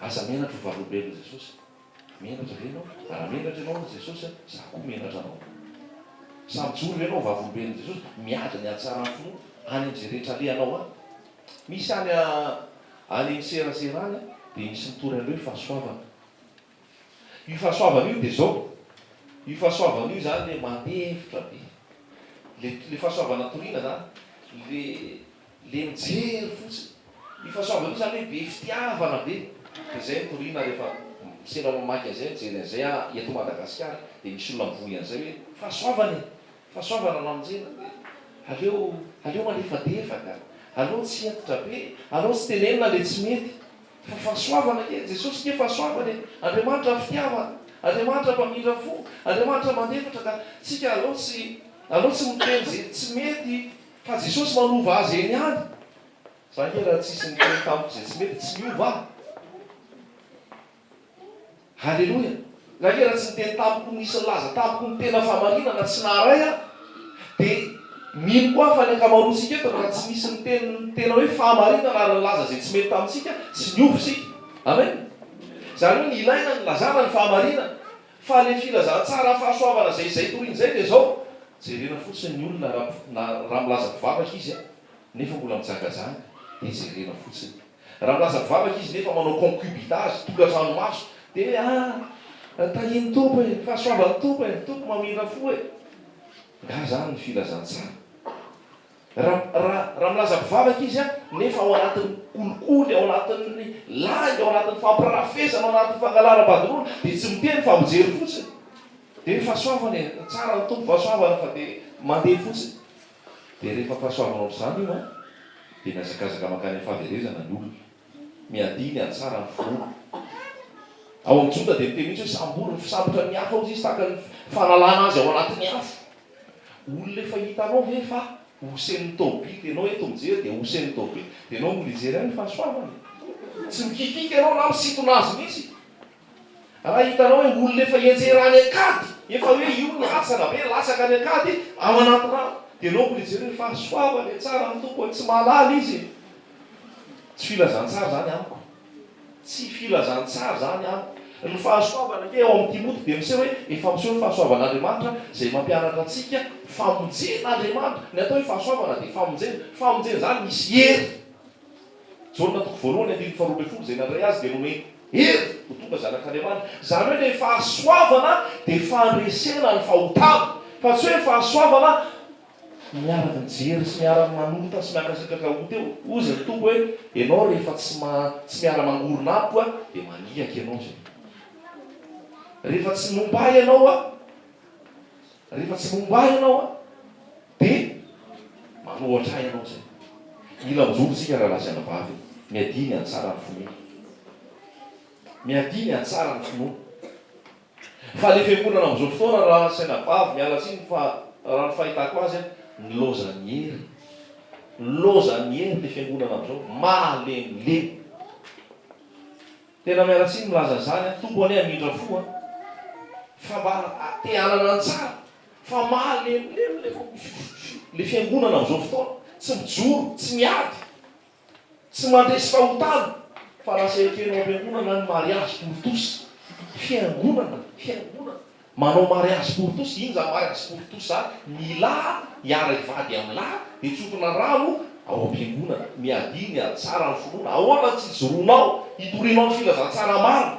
Aza menatra ho valolombelon'i Jesosy. Menatra ve ianao? Raha menatra ianao amin'i Jesosy, izaho koa menatra anao. Sa mijoro ve ianao ho vavolombelon'i Jesosy, miady ny hatsaran'ny finoana, any amin'izay rehetra alehanao any? Misy any amin'ny seraserany dia misy mitory an'ireo fahasoavana. Io fahasoavana io dia izao, io fahasoavana io izany dia mandeha hevitra be. Ilay ilay fahasoavana toriana izany, ilay ilay mijery fotsiny. Io fahasoavana io izany hoe be fitiavana be. Dia izay no toriana rehefa sendra mamaky an'izay, mijery an'izay aho eto Madagasikara, dia misy olona mivoy an'izay hoe fahasoavana e! Fahasoavana lanonjena dia aleo aleo malefadefaka, aleo tsy hentitra be, aleo tsy tenenina ilay tsy mety. Fa fahasoavana anie, Jesosy anie fahasoavana e! Andriamanitra fitiavana, Andriamanitra mpamindra fo, Andriamanitra mandefitra ka tsika aleo tsy aleo tsy miteny ze tsy mety fa Jesosy manova azy eny ihany! Za nge raha tsisy niteny tamiko ze tsy mety tsy miova aho! Aleloia! Na dia raha tsy niteny tamiko ny nisy nilaza tamiko ny tena fahamarinana tsy naharay aho, dia mino koa aho fa ny ankamaroantsika eto, raha tsy nisy niteny ny tena hoe fahamarinana ary nilaza izay tsy mety tamintsika, tsy niova isika. Amen! Izany hoe ny ilaina ny ilazana ny fahamarinana. Fa ilay filazantsara fahasoavana izay izay toriana izay dia izao, jerena fotsiny ny olona raha raha milaza mpivavaka izy an, nefa mbola mijangajanga, dia jerena fotsiny. Raha milaza mpivavaka izy nefa manao concubinage, tokantrano maso, dia hoe ah! tahian'ny Tompo e! fahasoavan'ny Tompo e! ny Tompo mamindra fo e! Nga zany ny filazantsara? Raha raha milaza mpivavaka izy an, nefa ao anatin'ny kolikoly, ao anatin'ny lainga, ao anatin'ny fampirafesana, ao anatin'ny fangalaram-badoroana, dia tsy miteny fa mijery fotsiny, dia hoe fahasoavana e! tsara ny Tompo, fahasoavana, fa dia mandeha fotsiny. Dia rehefa ampahasoavinao amin'izany io an, dia mihazakazaka mankany amin'ny fahaverezana ny olona. Miadia ny hatsara ny finoana. Ao amin'ny Joda dia miteny mihitsy hoe sambory ny fisambotra ny hafa hozy izy tahaka ny fanalana azy ao anatin'ny afo. Olona efa hitanao ve fa hosen'ny taobily ianao eto mijery dia hosen'ny taobily dia ianao mbola hijery ihany ny fahasoavany? Tsy mikikika ianao na misintona azy mihitsy. Raha hitanao hoe olona efa hianjera any an-kady, efa hoe io ny asany, avy eo latsaka any an-kady ao anaty rano, dia aleoko mijery hoe fa soava ve tsara ny tompony, tsy mahalala izy e! Tsy filazantsara izany amiko. Tsy filazantsara izany amiko. Ny fahasoavana ange ao amin'ny Timoty dia miseho hoe efa miseho ny fahasoavan'Andriamanitra izay mampianatra antsika famonjen'Andriamanitra. Ny atao hoe fahasoavana dia famonjena. Famonjena izany misy hery. Jaona toko voalohany andininy faharoa ambin'ny folo, izay nandray azy dia nomeny hery ho tonga zanak'Andriamanitra. Izany hoe ilay fahasoavana dia fandresena ny fahotana, fa tsy hoe fahasoavana miara-mijery sy miara-manota sy miankasitraka ho teo. Hoy izay toko hoe, Ianao rehefa tsy tsy miara-mangorona amiko aho dia maniaky ianao izay. Rehefa tsy momba ahy ianao aho, rehefa tsy momba ahy ianao aho. Dia manohatra ahy ianao izay. Mila mijoro isika rahalahy sy anabavy e. Miadia ny hahatsara ny finoana. Miadia ny hahatsara ny finoana. Fa ilay fiangonana amin'izao fotoana rahalahy sy anabavy, miala tsiny fa raha ny fahitako azy an, nilaozan' ny hery. Nilaozan' ny hery ilay fiangonana amin'izao. Malemilemy. Tena miala tsiny milaza zany a Tompo anie hamindra fo a fa mba te hanana ny tsara fa mahalemilemy le le fiangonana amzao fotoana tsy mijoro tsy miady tsy mandresy fahotana fa lasa ekeno ampiangonana ny mariazy tontosa fiangonana fiangonana Manao mariazy pour tous, iny zany mariazy pour tous zany, ny lahy hiara hivady amin'ny lahy, dia tsofina rano ao am-piangonana, miadia, miady tsara ny finoana, ahoana no tsy ijoroanao hitorianao ny filazantsara marina?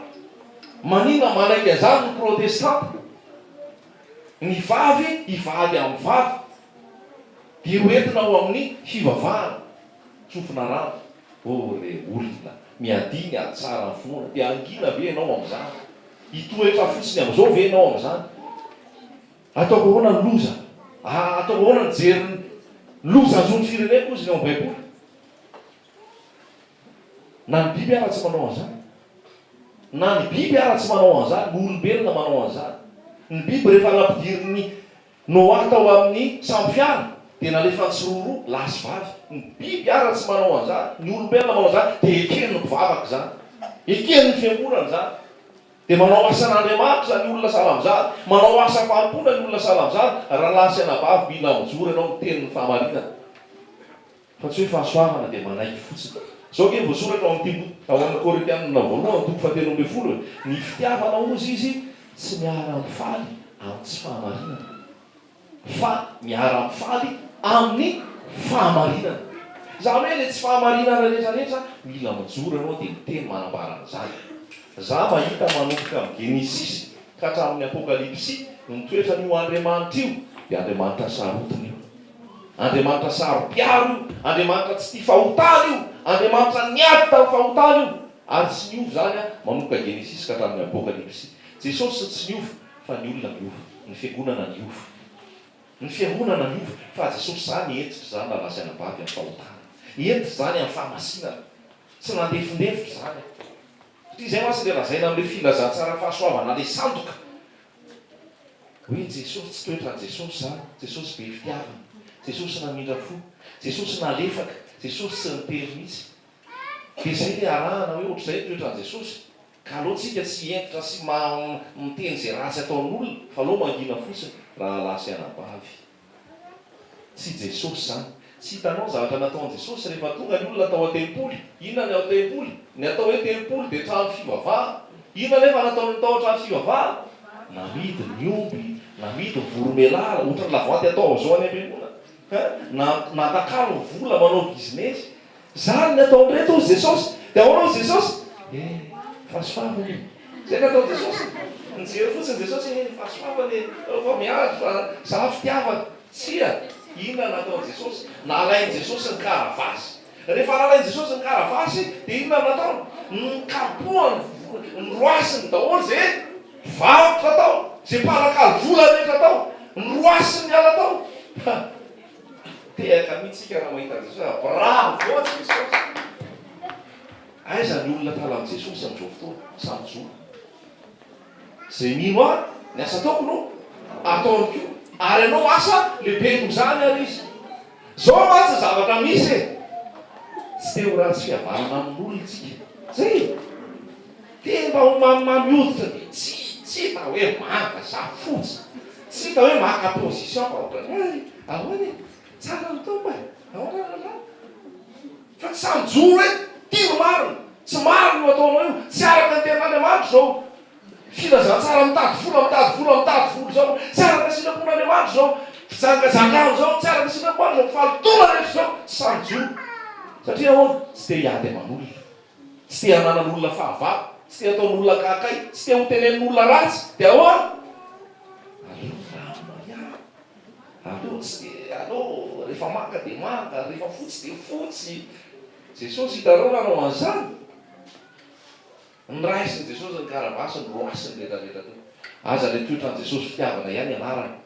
Maninona manaiky an'izany ny protestanta? Ny vavy hivady amin'ny vavy, dia ho entina ao amin'ny fivavahana. Tsofina rava, oh re olona, miadiny ady tsara amin'ny finoana, dia hangina ve ianao amin'izany? Hitoetra fotsiny amin'izao ve ianao amin'izany? Ataoko ahoana ny loza? Ah, ataoko ahoana ny hijery ny loza azon'ny fireneko hozy ny ao amin'ny Baiboly? Na ny biby ara tsy manao an'izany. Na ny biby ara tsy manao an'izany, ny olombelona manao an'izany. Ny biby rehefa nampidirin'ny Noah tao amin'ny sambo fiara dia nalefany tsiroroa lahy sy vavy. Ny biby ara tsy manao an'izany, ny olombelona manao izany dia eken'ny mpivavaka izany. Eken'ny fiangonana izany. Dia manao asan'Andriamanitra ny olona sahala amin'izany, manao asa fanompoana ny olona sahala amin'izany, rahalahy sy anabavy mila mijoro ianao miteny ny fahamarinana. Fa tsy hoe fahasoavana dia manaiky fotsiny. Izao ange voasoratra ao amin'ity boky ao amin'ny Korintianina voalohany toko fahatelo ambin'ny folo hoe, Ny fitiavana hozy izy tsy miara-mifaly amin'ny tsy fahamarinana, fa miara-mifaly amin'ny fahamarinana. Izany hoe ilay tsy fahamarinana rehetra rehetra mila mijoro ianao dia miteny manambara an'izany. Izaho mahita manomboka amin'ny Genesisy ka hatramin'ny Apokalypsy ny toetran'io Andriamanitra io dia Andriamanitra sarotiny io. Andriamanitra saro-piaro io, Andriamanitra tsy tia fahotana io, Andriamanitra niady tamin'ny fahotana io, ary tsy niova izany manomboka Genesisy ka hatramin'ny Apokalypsy. Jesosy tsy niova, fa ny olona niova. Ny fiangonana niova. Ny fiangonana niova, fa Jesosy izaho nihetsika izany raha lasa anabavy amin'ny fahotana. Nihetsika izany amin'ny fahamasinana. Tsy nandefindefitra izany aho. Satria izay mantsy ilay lazaina amin'ilay filazantsara fahasoavana, ilay sandoka. Hoe Jesosy tsy toetrany Jesosy zany, Jesosy be fitiavana, Jesosy namindra fo, Jesosy nalefaka, Jesosy tsy nitery mihitsy. Dia zay le arahana hoe ohatr'izay ny toetrany Jesosy. Ka aleo tsika tsy hentitra sy miteny ze ratsy ataon'olona fa aleo mangina fotsiny rahalahy sy anabavy. Tsy Jesosy izany. Tsy hitanao ny zavatra nataon'i Jesosy rehefa tonga ny olona tao an-tempoly. Inona ny ao tempoly? Ny atao hoe tempoly dia trano fivavahana. Inona anefa no ataon'ny tao an-trano fivavahana? Namidy ny omby, namidy ny voromelala, ohatran'ny lavanty atao amin'izao any am-piangonana. Nantakalo ny vola manao bizinesy. Zany ny ataony reto hozy Jesosy. Dia ahoana hozy Jesosy? He, fahasoava anie. Zay ny ataony Jesosy. Nijery fotsiny Jesosy, he, fahasoava anie. Nareo fa miady fa za fitiavana. Tsia. Inona no nataony Jesosy? Nalainy Jesosy ny karavasy. Rehefa nalainy Jesosy ny karavasy, dia inona no nataony? Nokapohany, noroasiny daholo izay varotra tao, izay mpanakalo vola rehetra tao. Noroasiny niala tao. Tehaka mihitsy isika raha mahita an'i Jesosy. Bravo Jesosy! Aiza ny olona tala amin'i Jesosy amin'izao fotoana? Sa mijoro? Izay mino ahy, ny asa ataoko no ataony koa. Ary hanao asa lehibe noho izany ary izy. Izao mantsy ny zavatra misy e! Tsy te ho ratsy fihavanana amin'olona isika. Izay e! Dia mba ho mamimamy hoditra dia tsy hita hoe manga sa fotsy. Tsy hita hoe maka position fa ohatran'ny hoe ahoana e? Tsara ny Tompo e? Ahoana ny lalàna? Fa tsy sahy mijoro hoe ty no marina, tsy marina io ataonao io, tsy araka ny tenin'Andriamanitra izao filazantsara mitady vola, mitady vola, mitady vola izao, tsy araka ny sitrapon'Andriamanitra izao fijangajangana izao, tsy araka ny sitrapon'Andriamanitra izao fahalotoana rehetra izao, tsy sahy mijoro. Satria ahoana? Tsy te hiady aman'olona. Tsy te hananan'olona fahavalo, tsy te hataon'olona akaiky, tsy te hotenenin'olona ratsy, dia ahoana? Aleo ny rano mariary, aleo ny tsy dia aleo, rehefa manga dia manga, rehefa fotsy dia fotsy. Jesosy, hitanareo raha nanao an'izany? Noraisin'i Jesosy ny karavasiny, roasiny rehetrarehetra teo. Aza ilay toetran'i Jesosy fitiavana ihany ianarana.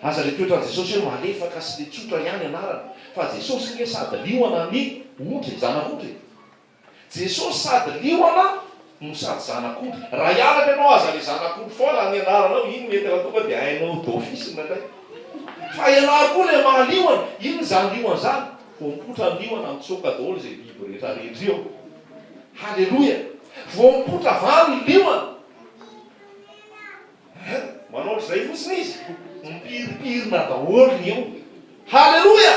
Aza ilay toetran'i Jesosy hoe malefaka sy dia tsotra ihany ianarana. Fa Jesosy ange sady liona ny ondry, zanak'ondry e! Jesosy sady liona no sady zanak'ondry. Raha hianatra ianao aza le zanak'ondry foana any anaranao iny mety raha tonga dia hainao d'office ny anay. Fa ialahy koa le maha liona, inn zany liona zany? Voampotra ny liona mitsoaka daholo izay biby rehetra rehetra eo. Haleloia! Voampotra avy any liona. Hein? Manao izay fotsiny izy? Mipirimpirina daholo ny eo. Haleloia!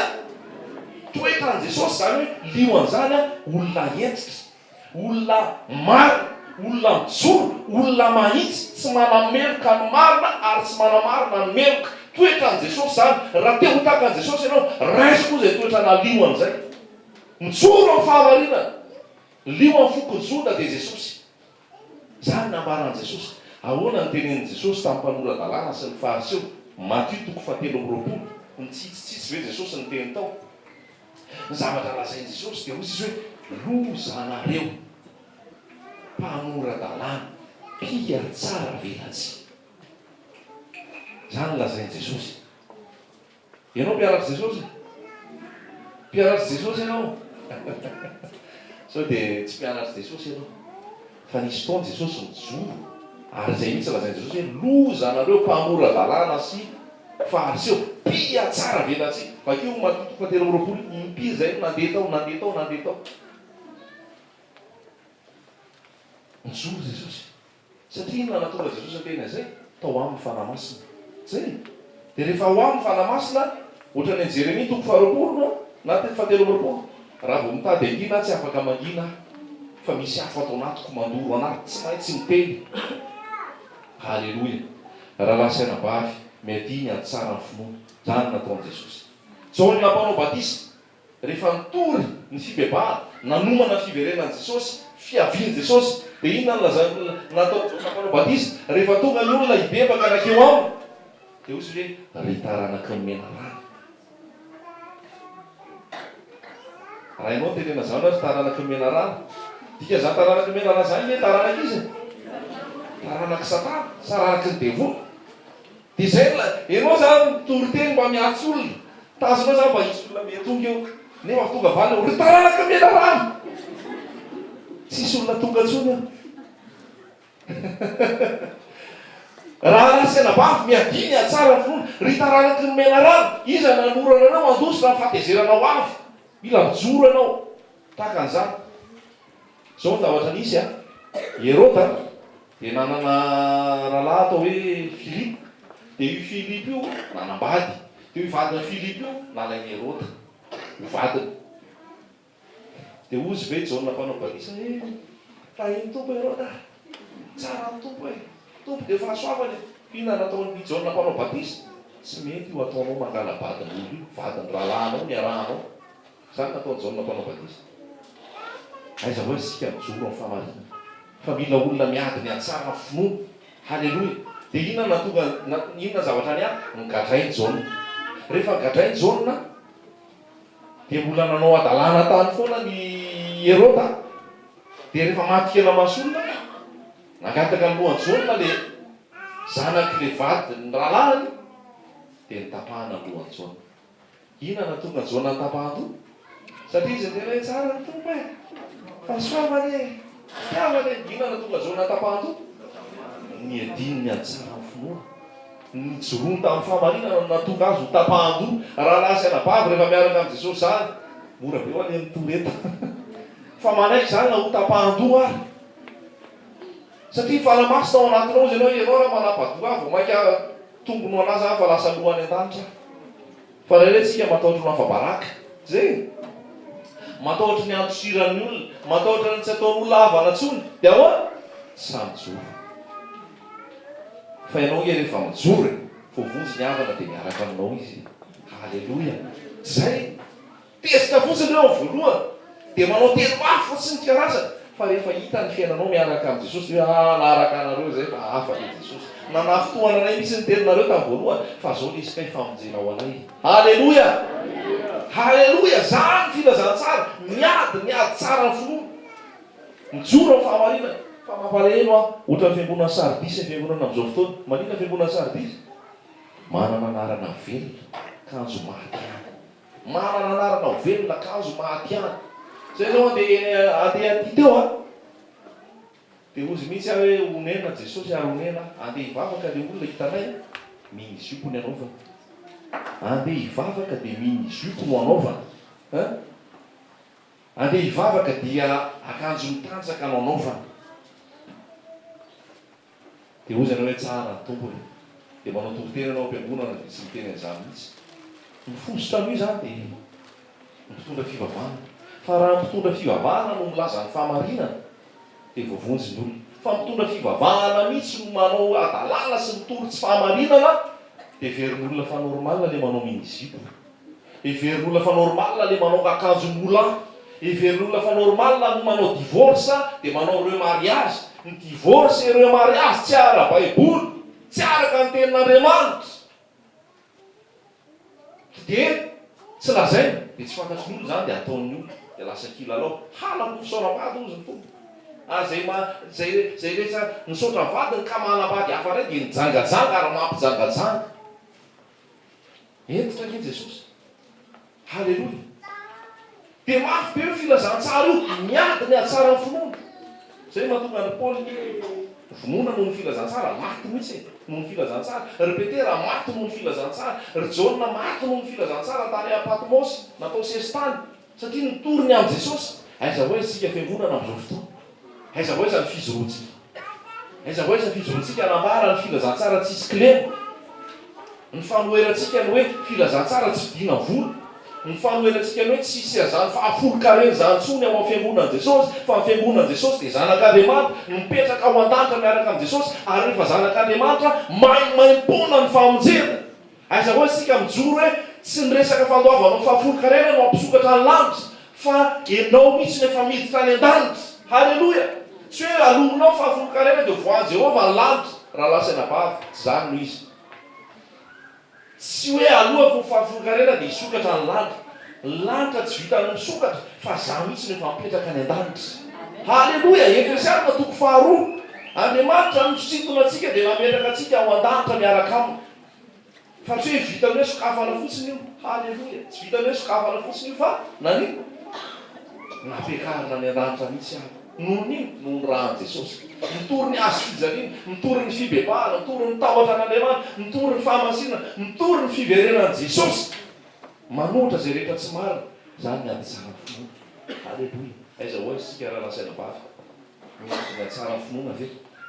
Toetran'i Jesosy izany hoe lio an'izany, olona hentitra, olona marina, olona mijoro, olona mahitsy, tsy manameloka ny marina ary tsy manamarina ny meloka. Toetran'i Jesosy izany. Raha te ho tahaka an'i Jesosy ianao, raiso koa izay toetra nalio an'izay. Mijoro amin'ny fahamarinana. Lio amin'ny fokon'i Joda dia Jesosy. Izany no nambaran'i Jesosy. Ahoana no tenenin'i Jesosy tamin'ny mpanora-dalàna sy ny Fariseo? Matio toko fahatelo amby roapolo. Nitsitsitsitsy ve Jesosy ny teny tao? Ny zavatra lazain'i Jesosy dia hoy izy hoe, Lozanareo, mpanora-dalàna, mpihatsara velatsihy. Izany no lazain'i Jesosy. Ianao mpiaratsy Jesosy? Mpiaratsy Jesosy ianao? Sao dia tsy mpianatsy Jesosy ianao? Fa nisy fotoana Jesosy nijoro ary izay mihitsy lazain'i Jesosy hoe loza anareo mpamora-dalàna sy Fariseo, mpihatsara velatsihy! Vakio Matito fahatelo amby roapolo, impiry izay no nandeha tao, nandeha tao, nandeha tao. Nijoro Jesosy. Satria inona no nahatonga Jesosy hiteny an'izay? Tao aminy ny Fanahy Masina. Zay e! Dia rehefa ao aminy ny Fanahy Masina, ohatran'ny any Jeremia toko faharoapolo no na toko fahatelo amby roapolo, Raha vao mitady angina aho tsy afaka mangina aho, fa misy afo ato anatiko mandoro anahy tsy maintsy miteny. Haleloia! Rahalahy sy anabavy, miadiany hatsara ny finoana. Izany no nataon'i Jesosy. Jaona mpanao batisa. Rehefa nitory ny fibebahana, nanomana ny fiverenan'i Jesosy, fiavian'i Jesosy, dia inona no lazain'ny olona nataon'i Jaona Mpanao Batisa rehefa tonga ny olona hibebaka nankeo aminy? Dia hoy izy hoe, Ry taranak'i ny menarana. Raha ianao no tenena izany hoe, Ry taranak'i ny menarana, dikan'izany taranak'i ny menarana izany hoe taranak'iza e? Taranak'i Satana, saranaky ny devoly. Diesel, enao za mitory teny mba miatsy olona, tazonao za mba hisy olona mety tonga eo, nefa avy tonga valiny, ry taranaka mena rano! Tsisy olona tonga ntsony eo. Raha ratsy anabavy, miadia ny hahatsara ny finoana, ry taranaky ny mena rano! Iza nanolorana anao handositra ny fahatezerana ho avy? Mila mijoro ianao tahaka an'izany. Izao ny zavatra nisy a. Heroda dia nanana rahalahy atao hoe Filipo. Dia io Filipo io nanambady. Dia io vadin'i Filipo io nalain'i Heroda ho vadiny. Dia hozy ve Jaona mpanao batisa, He, tahin'ny Tompo Heroda a! Tsara ny Tompo e! Tompo dia fahasoavana e! Inona nataon'i Jaona mpanao batisa? Tsy mety io ataonao mangala-badin'olona io, vadin'ny rahalahinao niarahanao. Izany nataon'i Jaona Mpanao Batisa. Aiza hoy isika mijoro amin'ny fahamarinana fa mila olona miady ny hatsara ny finoana. Haleloia! Dia inona no nahatonga, na, inona ny zavatra niany? Nogadrain'i Jaona. Rehefa nogadrain'i Jaona, dia mbola nanao hadalana tany foana an'i Heroda. Dia rehefa maty kely maso olona, nangataka ny lohan'i Jaona ilay zanak'ilay vadin'ny rahalahiny, dia notapahana ny lohan'i Jaona. Ina natonga Jona tapa-andoha? Satria izy niteny hoe, Tsara ny Tompo e! Fa soava anie e! Fitiavana e! Ina natonga Jona tapa-andoha? Ny adinony hahatsara ny finoany. Ny nijoroany tamin'ny fahamarinana no nahatonga azy ho tapa-andoha. Rahalahy sy anabavy, rehefa miaraka amin'i Jesosy izany, mora be ho an'ny eny Toreto fa manaiky izany na ho tapa-andoha ary. Satria fanamasy tao anatinao izy ianao, ianao raha manapa-doha ahy vao mainka tombony ho an'azy aho fa lasa loha any an-danitra aho. Fa ray rentsika matahotra ho lafa-baraka. Ze? Matahotra ny handosiran'ny olona, matahotra ny tsy ataon'olona havana intsony. Dia ahoana? Sa mijoro? Fa ianao ange rehefa mijoro e, voavonjy ny havana dia miaraka aminao izy e. Haleloia! Tsy izay? Tezitra fotsiny ireo amin'ny voalohany, dia manao teny mafy fotsiny ny karazany, fa rehefa hita ny fiainanao miaraka amin'i Jesosy, dia hoe, ah, na araka anareo izay fa hafa ilay Jesosy. Nanafitohana anay mihitsy ny teninareo tamin'ny voalohany, fa izao lesy kay famonjena ho anay. Haleloia! Haleloia! Izany ny filazantsara, miady, miady tsara ny finoana. Mijoro amin'ny fahamarinana. Fa mampalahelo hoa, ohatran'ny fiangonan'i Sardisy ny fiangonana amin'izao fotoana. Maninona ny fiangonan'i Sardisy? Manana anarana velona, kanjo maty ihany. Manana anarana ho velona kanjo maty any. Zay zao andeha eny andeha aty teo a! Dia hozy mihitsy aho hoe onena Jesosy ary onena aho. Andeha hivavaka le olona hitanay a! Mini jupe ny anaovany. Andeha hivavaka dia mini jupe no anaovany a! Andeha hivavaka dia akanjo mitanjaka no anaovany. Dia hoy izy anao hoe tsara, Tompo e. Dia manao toriteny ianao am-piangonana dia tsy miteny an'izany mihitsy. Ny fositra aloha izany dia ny mpitondra fivavahana. Fa raha ny mpitondra fivavahana no milaza ny fahamarinana dia voavonjy ny olona. Fa ny mpitondra fivavahana mihitsy no manao hadalala sy mitory tsy fahamarinana dia heverin'ny olona fa normal ilay manao mini-zipo. Heverin'ny olona fa normal le manaonga akanjo moulin. Heverin'ny olona fa normal no manao divorce dia manao remariage. Ny divorce et remariage tsy ara baiboly, tsy araka ny tenin'Andriamanitra. Dia tsy lazaina dia tsy fantatry ny olona izany dia ataon'ny olona dia lasa kilalao. Halako ny fisaoran'ny vady hozy ny foko. Ary izay ma izay izay rehetra misaotra ny vadiny ka manambady hafa indray dia nijangajanga ary mampijangajanga. Hentitra ange Jesosy. Haleloia. Dia mafy be io filazantsara io, miady ny hatsara ny finoana. Izay no mahatonga an'i Paoly hoe, vonoina noho ny filazantsara, maty mihitsy e, noho ny filazantsara. Ry Petera maty noho ny filazantsara. Ry Jaona maty noho ny filazantsara tany Patmosy, natao sesitany. Satria ny toriny amin'i Jesosy, Aiza ho aiza isika fiangonana amin'izao fotoana? Aiza ho aiza ny fijoroantsika? Aiza ho aiza ny fijoroantsika hanambara ny filazantsara tsisy kilema? Ny fanoherantsika ny hoe filazantsara tsy vidiana vola? Ny fanoherantsika ny hoe tsy hisy an'izany fahafolon-karena izany intsony ao amin'ny fiangonan'i Jesosy, fa ny fiangonan'i Jesosy dia zanak'Andriamanitra, mipetraka ao an-danitra miaraka amin'i Jesosy, ary rehefa zanak'Andriamanitra, maimaim-poana ny famonjena. Aiza moa isika mijoro hoe tsy ny resaka fandoavanao fahafolonkarena no hampisokatra ny lanitra fa ianao mihitsy no efa miditra any an-danitra. Haleloia! Tsy hoe alominao fahafolonkarena dia voahan'i Jehovah ny lanitra raha lasa eny am-bava. Tsy izany no izy. Tsy hoe alohako ny fahafolonkarena dia hisokatra ny lanitra. Ny lanitra tsy vitan'ny misokatra fa izaho mihitsy no efa mipetraka any an-danitra. Haleloia! Efesiana toko faharoa, Andriamanitra no nisintona antsika dia nametraka antsika ao an-danitra miaraka aminy. Fa tsy hoe vitan'ny hoe sokafana fotsiny io. Haleloia. Tsy vitan'ny hoe sokafana fotsiny io fa nani? Nampiakarina ny Andanitra mihitsy aho. Noho ny inona? Noho ny ran'i Jesosy. Mitory ny hazo fijaliana, mitory ny fibebahana, mitory ny tahotra an'Andriamanitra, mitory ny fahamasinana, mitory ny fiverenan'i Jesosy. Manohitra izay rehetra tsy marina. Izany ny hadisan'ny finoana. Haleloia. Aiza ho aiza isika raha nasaina bado ka. Misy izay tsara finoana ve?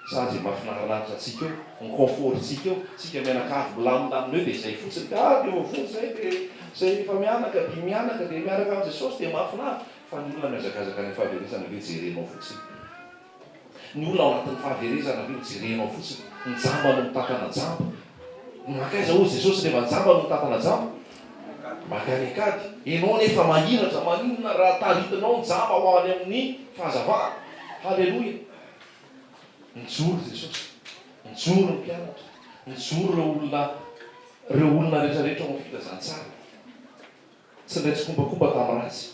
Sa izay mahafinaritraritra antsika eo, ny confort-ntsika eo, isika mianakavy milamilamina eo dia izay fotsiny, ka avy eo avoa izay dia izay efa mianaka dia mianaka dia miaraka amin'i Jesosy dia mahafinaritra. Fa ny olona mihazakazaka any amin'ny fahaverezana ve jerenao fotsiny? Ny olona ao anatin'ny fahaverezana ve ho jerenao fotsiny? Ny jamba no mitantana jamba. Nankaiza hoy Jesosy ilay majamba no nitantana jamba? Maka any an-kady. Ianao anefa mahiratra, maninona raha taritinao ny jamba ho any amin'ny fahazavana? Haleloia! Nijoro Jesosy, nijoro ny mpianatra, nijoro ireo olona, ireo olona rehetra rehetra ao amin'ny filazantsara. Tsy niray tsikombakomba tamin'ny ratsy.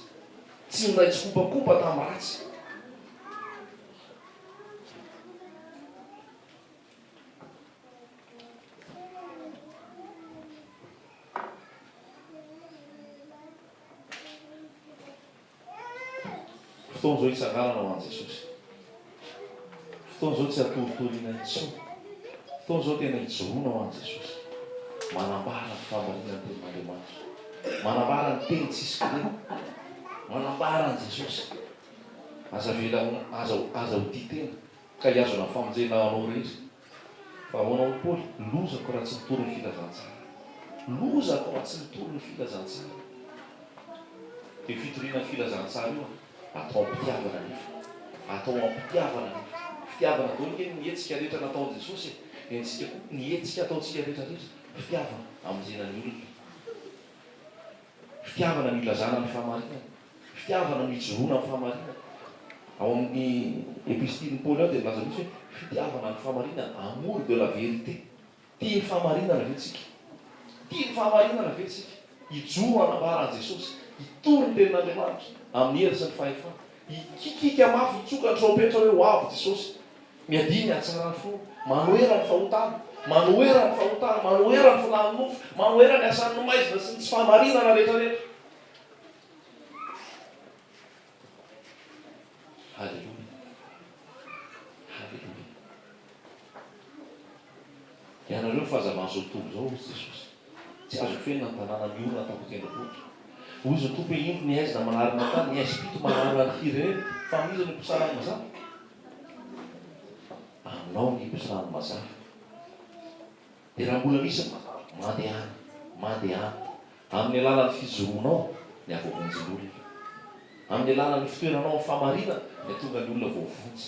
Tsy niray tsikombakomba tamin'ny ratsy. Fotoana izao hitsanganana ho an'i Jesosy. Fotoana izao tsy hatoritoriana intsony. Fotoana izao tena hijoroana ho an'i Jesosy. Manambara ny fahamarinan'ny tenin'Andriamanitra. Manambara ny teny tsisy kilema. Manambara an'i Jesosy. Aza avela, aza, aza ho tia tena. Ka hiazona ny famonjena anao irery. Fa ahoana hoy Paoly, lozako raha tsy mitory ny filazantsara. Lozako raha tsy mitory ny filazantsara. Io fitoriana ny filazantsara io atao am-pitiavana anefa. Atao am-pitiavana anefa. Fitiavana daholo ange ny hetsika rehetra nataon'i Jesosy e. Dia antsika koa, ny hetsika ataontsika rehetra rehetra, fitiavana, hamonjena ny olona. Fitiavana ny ilazana ny fahamarinana, fitiavana ny ijoroana amin'ny fahamarinana. Ao amin'ny Epistilin'i Paoly ao dia milaza mihitsy hoe fitiavana ny fahamarinana, amour de la vérité. Tia ny fahamarinana ve tsika? Tia ny fahamarinana ve tsika? Hijoro hanambara an'i Jesosy, hitory ny Tenin'Andriamanitra amin'ny hery sy ny fahefana. Hikikika mafy hitsoka ny trompetra hoe, Ho avy Jesosy. Miadia ny hatsarany finoana. Manohera ny fahotana. Manohera ny fahotana. Manohera ny filàn'ny nofo. Manohera ny asan'ny maizina sy ny tsy fahamarinana rehetrarehetra. Haleloia. Haleloia. Ianareo ny fahazavan'izao tontolo izao, hoy Jesosy. Tsy azo fenina ny tanàna miorina tamin'ny tendrombohitra. Hozy ny Tompo hoe, Indro ny aizina manary matin, ny aizim-pito manary ary firy re? Fa amin'iza no mpisara ny mazava? Aminao ny mpisara ny mazava. Dia raha mbola misy ny mazava, mandehana, mandehana. Amin'ny alalan'ny fijoroanao ny hahavoavonjy ny olona. Amin'ny alalan'ny fitoeranao amin'ny fahamarinana ny hahatonga ny olona voavonjy.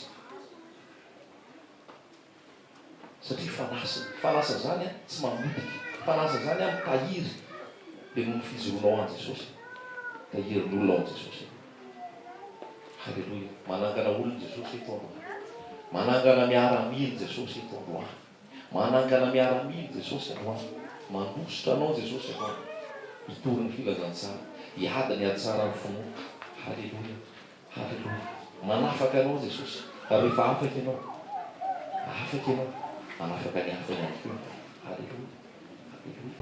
satria fanasiny, fanasa zany an tsy mamotika, fanasa zany an mitahiry, de noho ny fijoroanao an Jesosy, tahirin'olona ao an Jesosy ianao. Haleloia, manangana olona Jesosy eto androany, manangana miaramila Jesosy eto androany, manangana miaramila Jesosy androany, mandositra anao Jesosy androany, hitory ny filazantsara, hiady ny hatsaran'ny finoana, haleloia. Haleloia! Manafaka anao Jesosy. Rehefa afaka ianao, afaka ianao manafaka ny hafa ihany koa. Haleloia! Haleloia!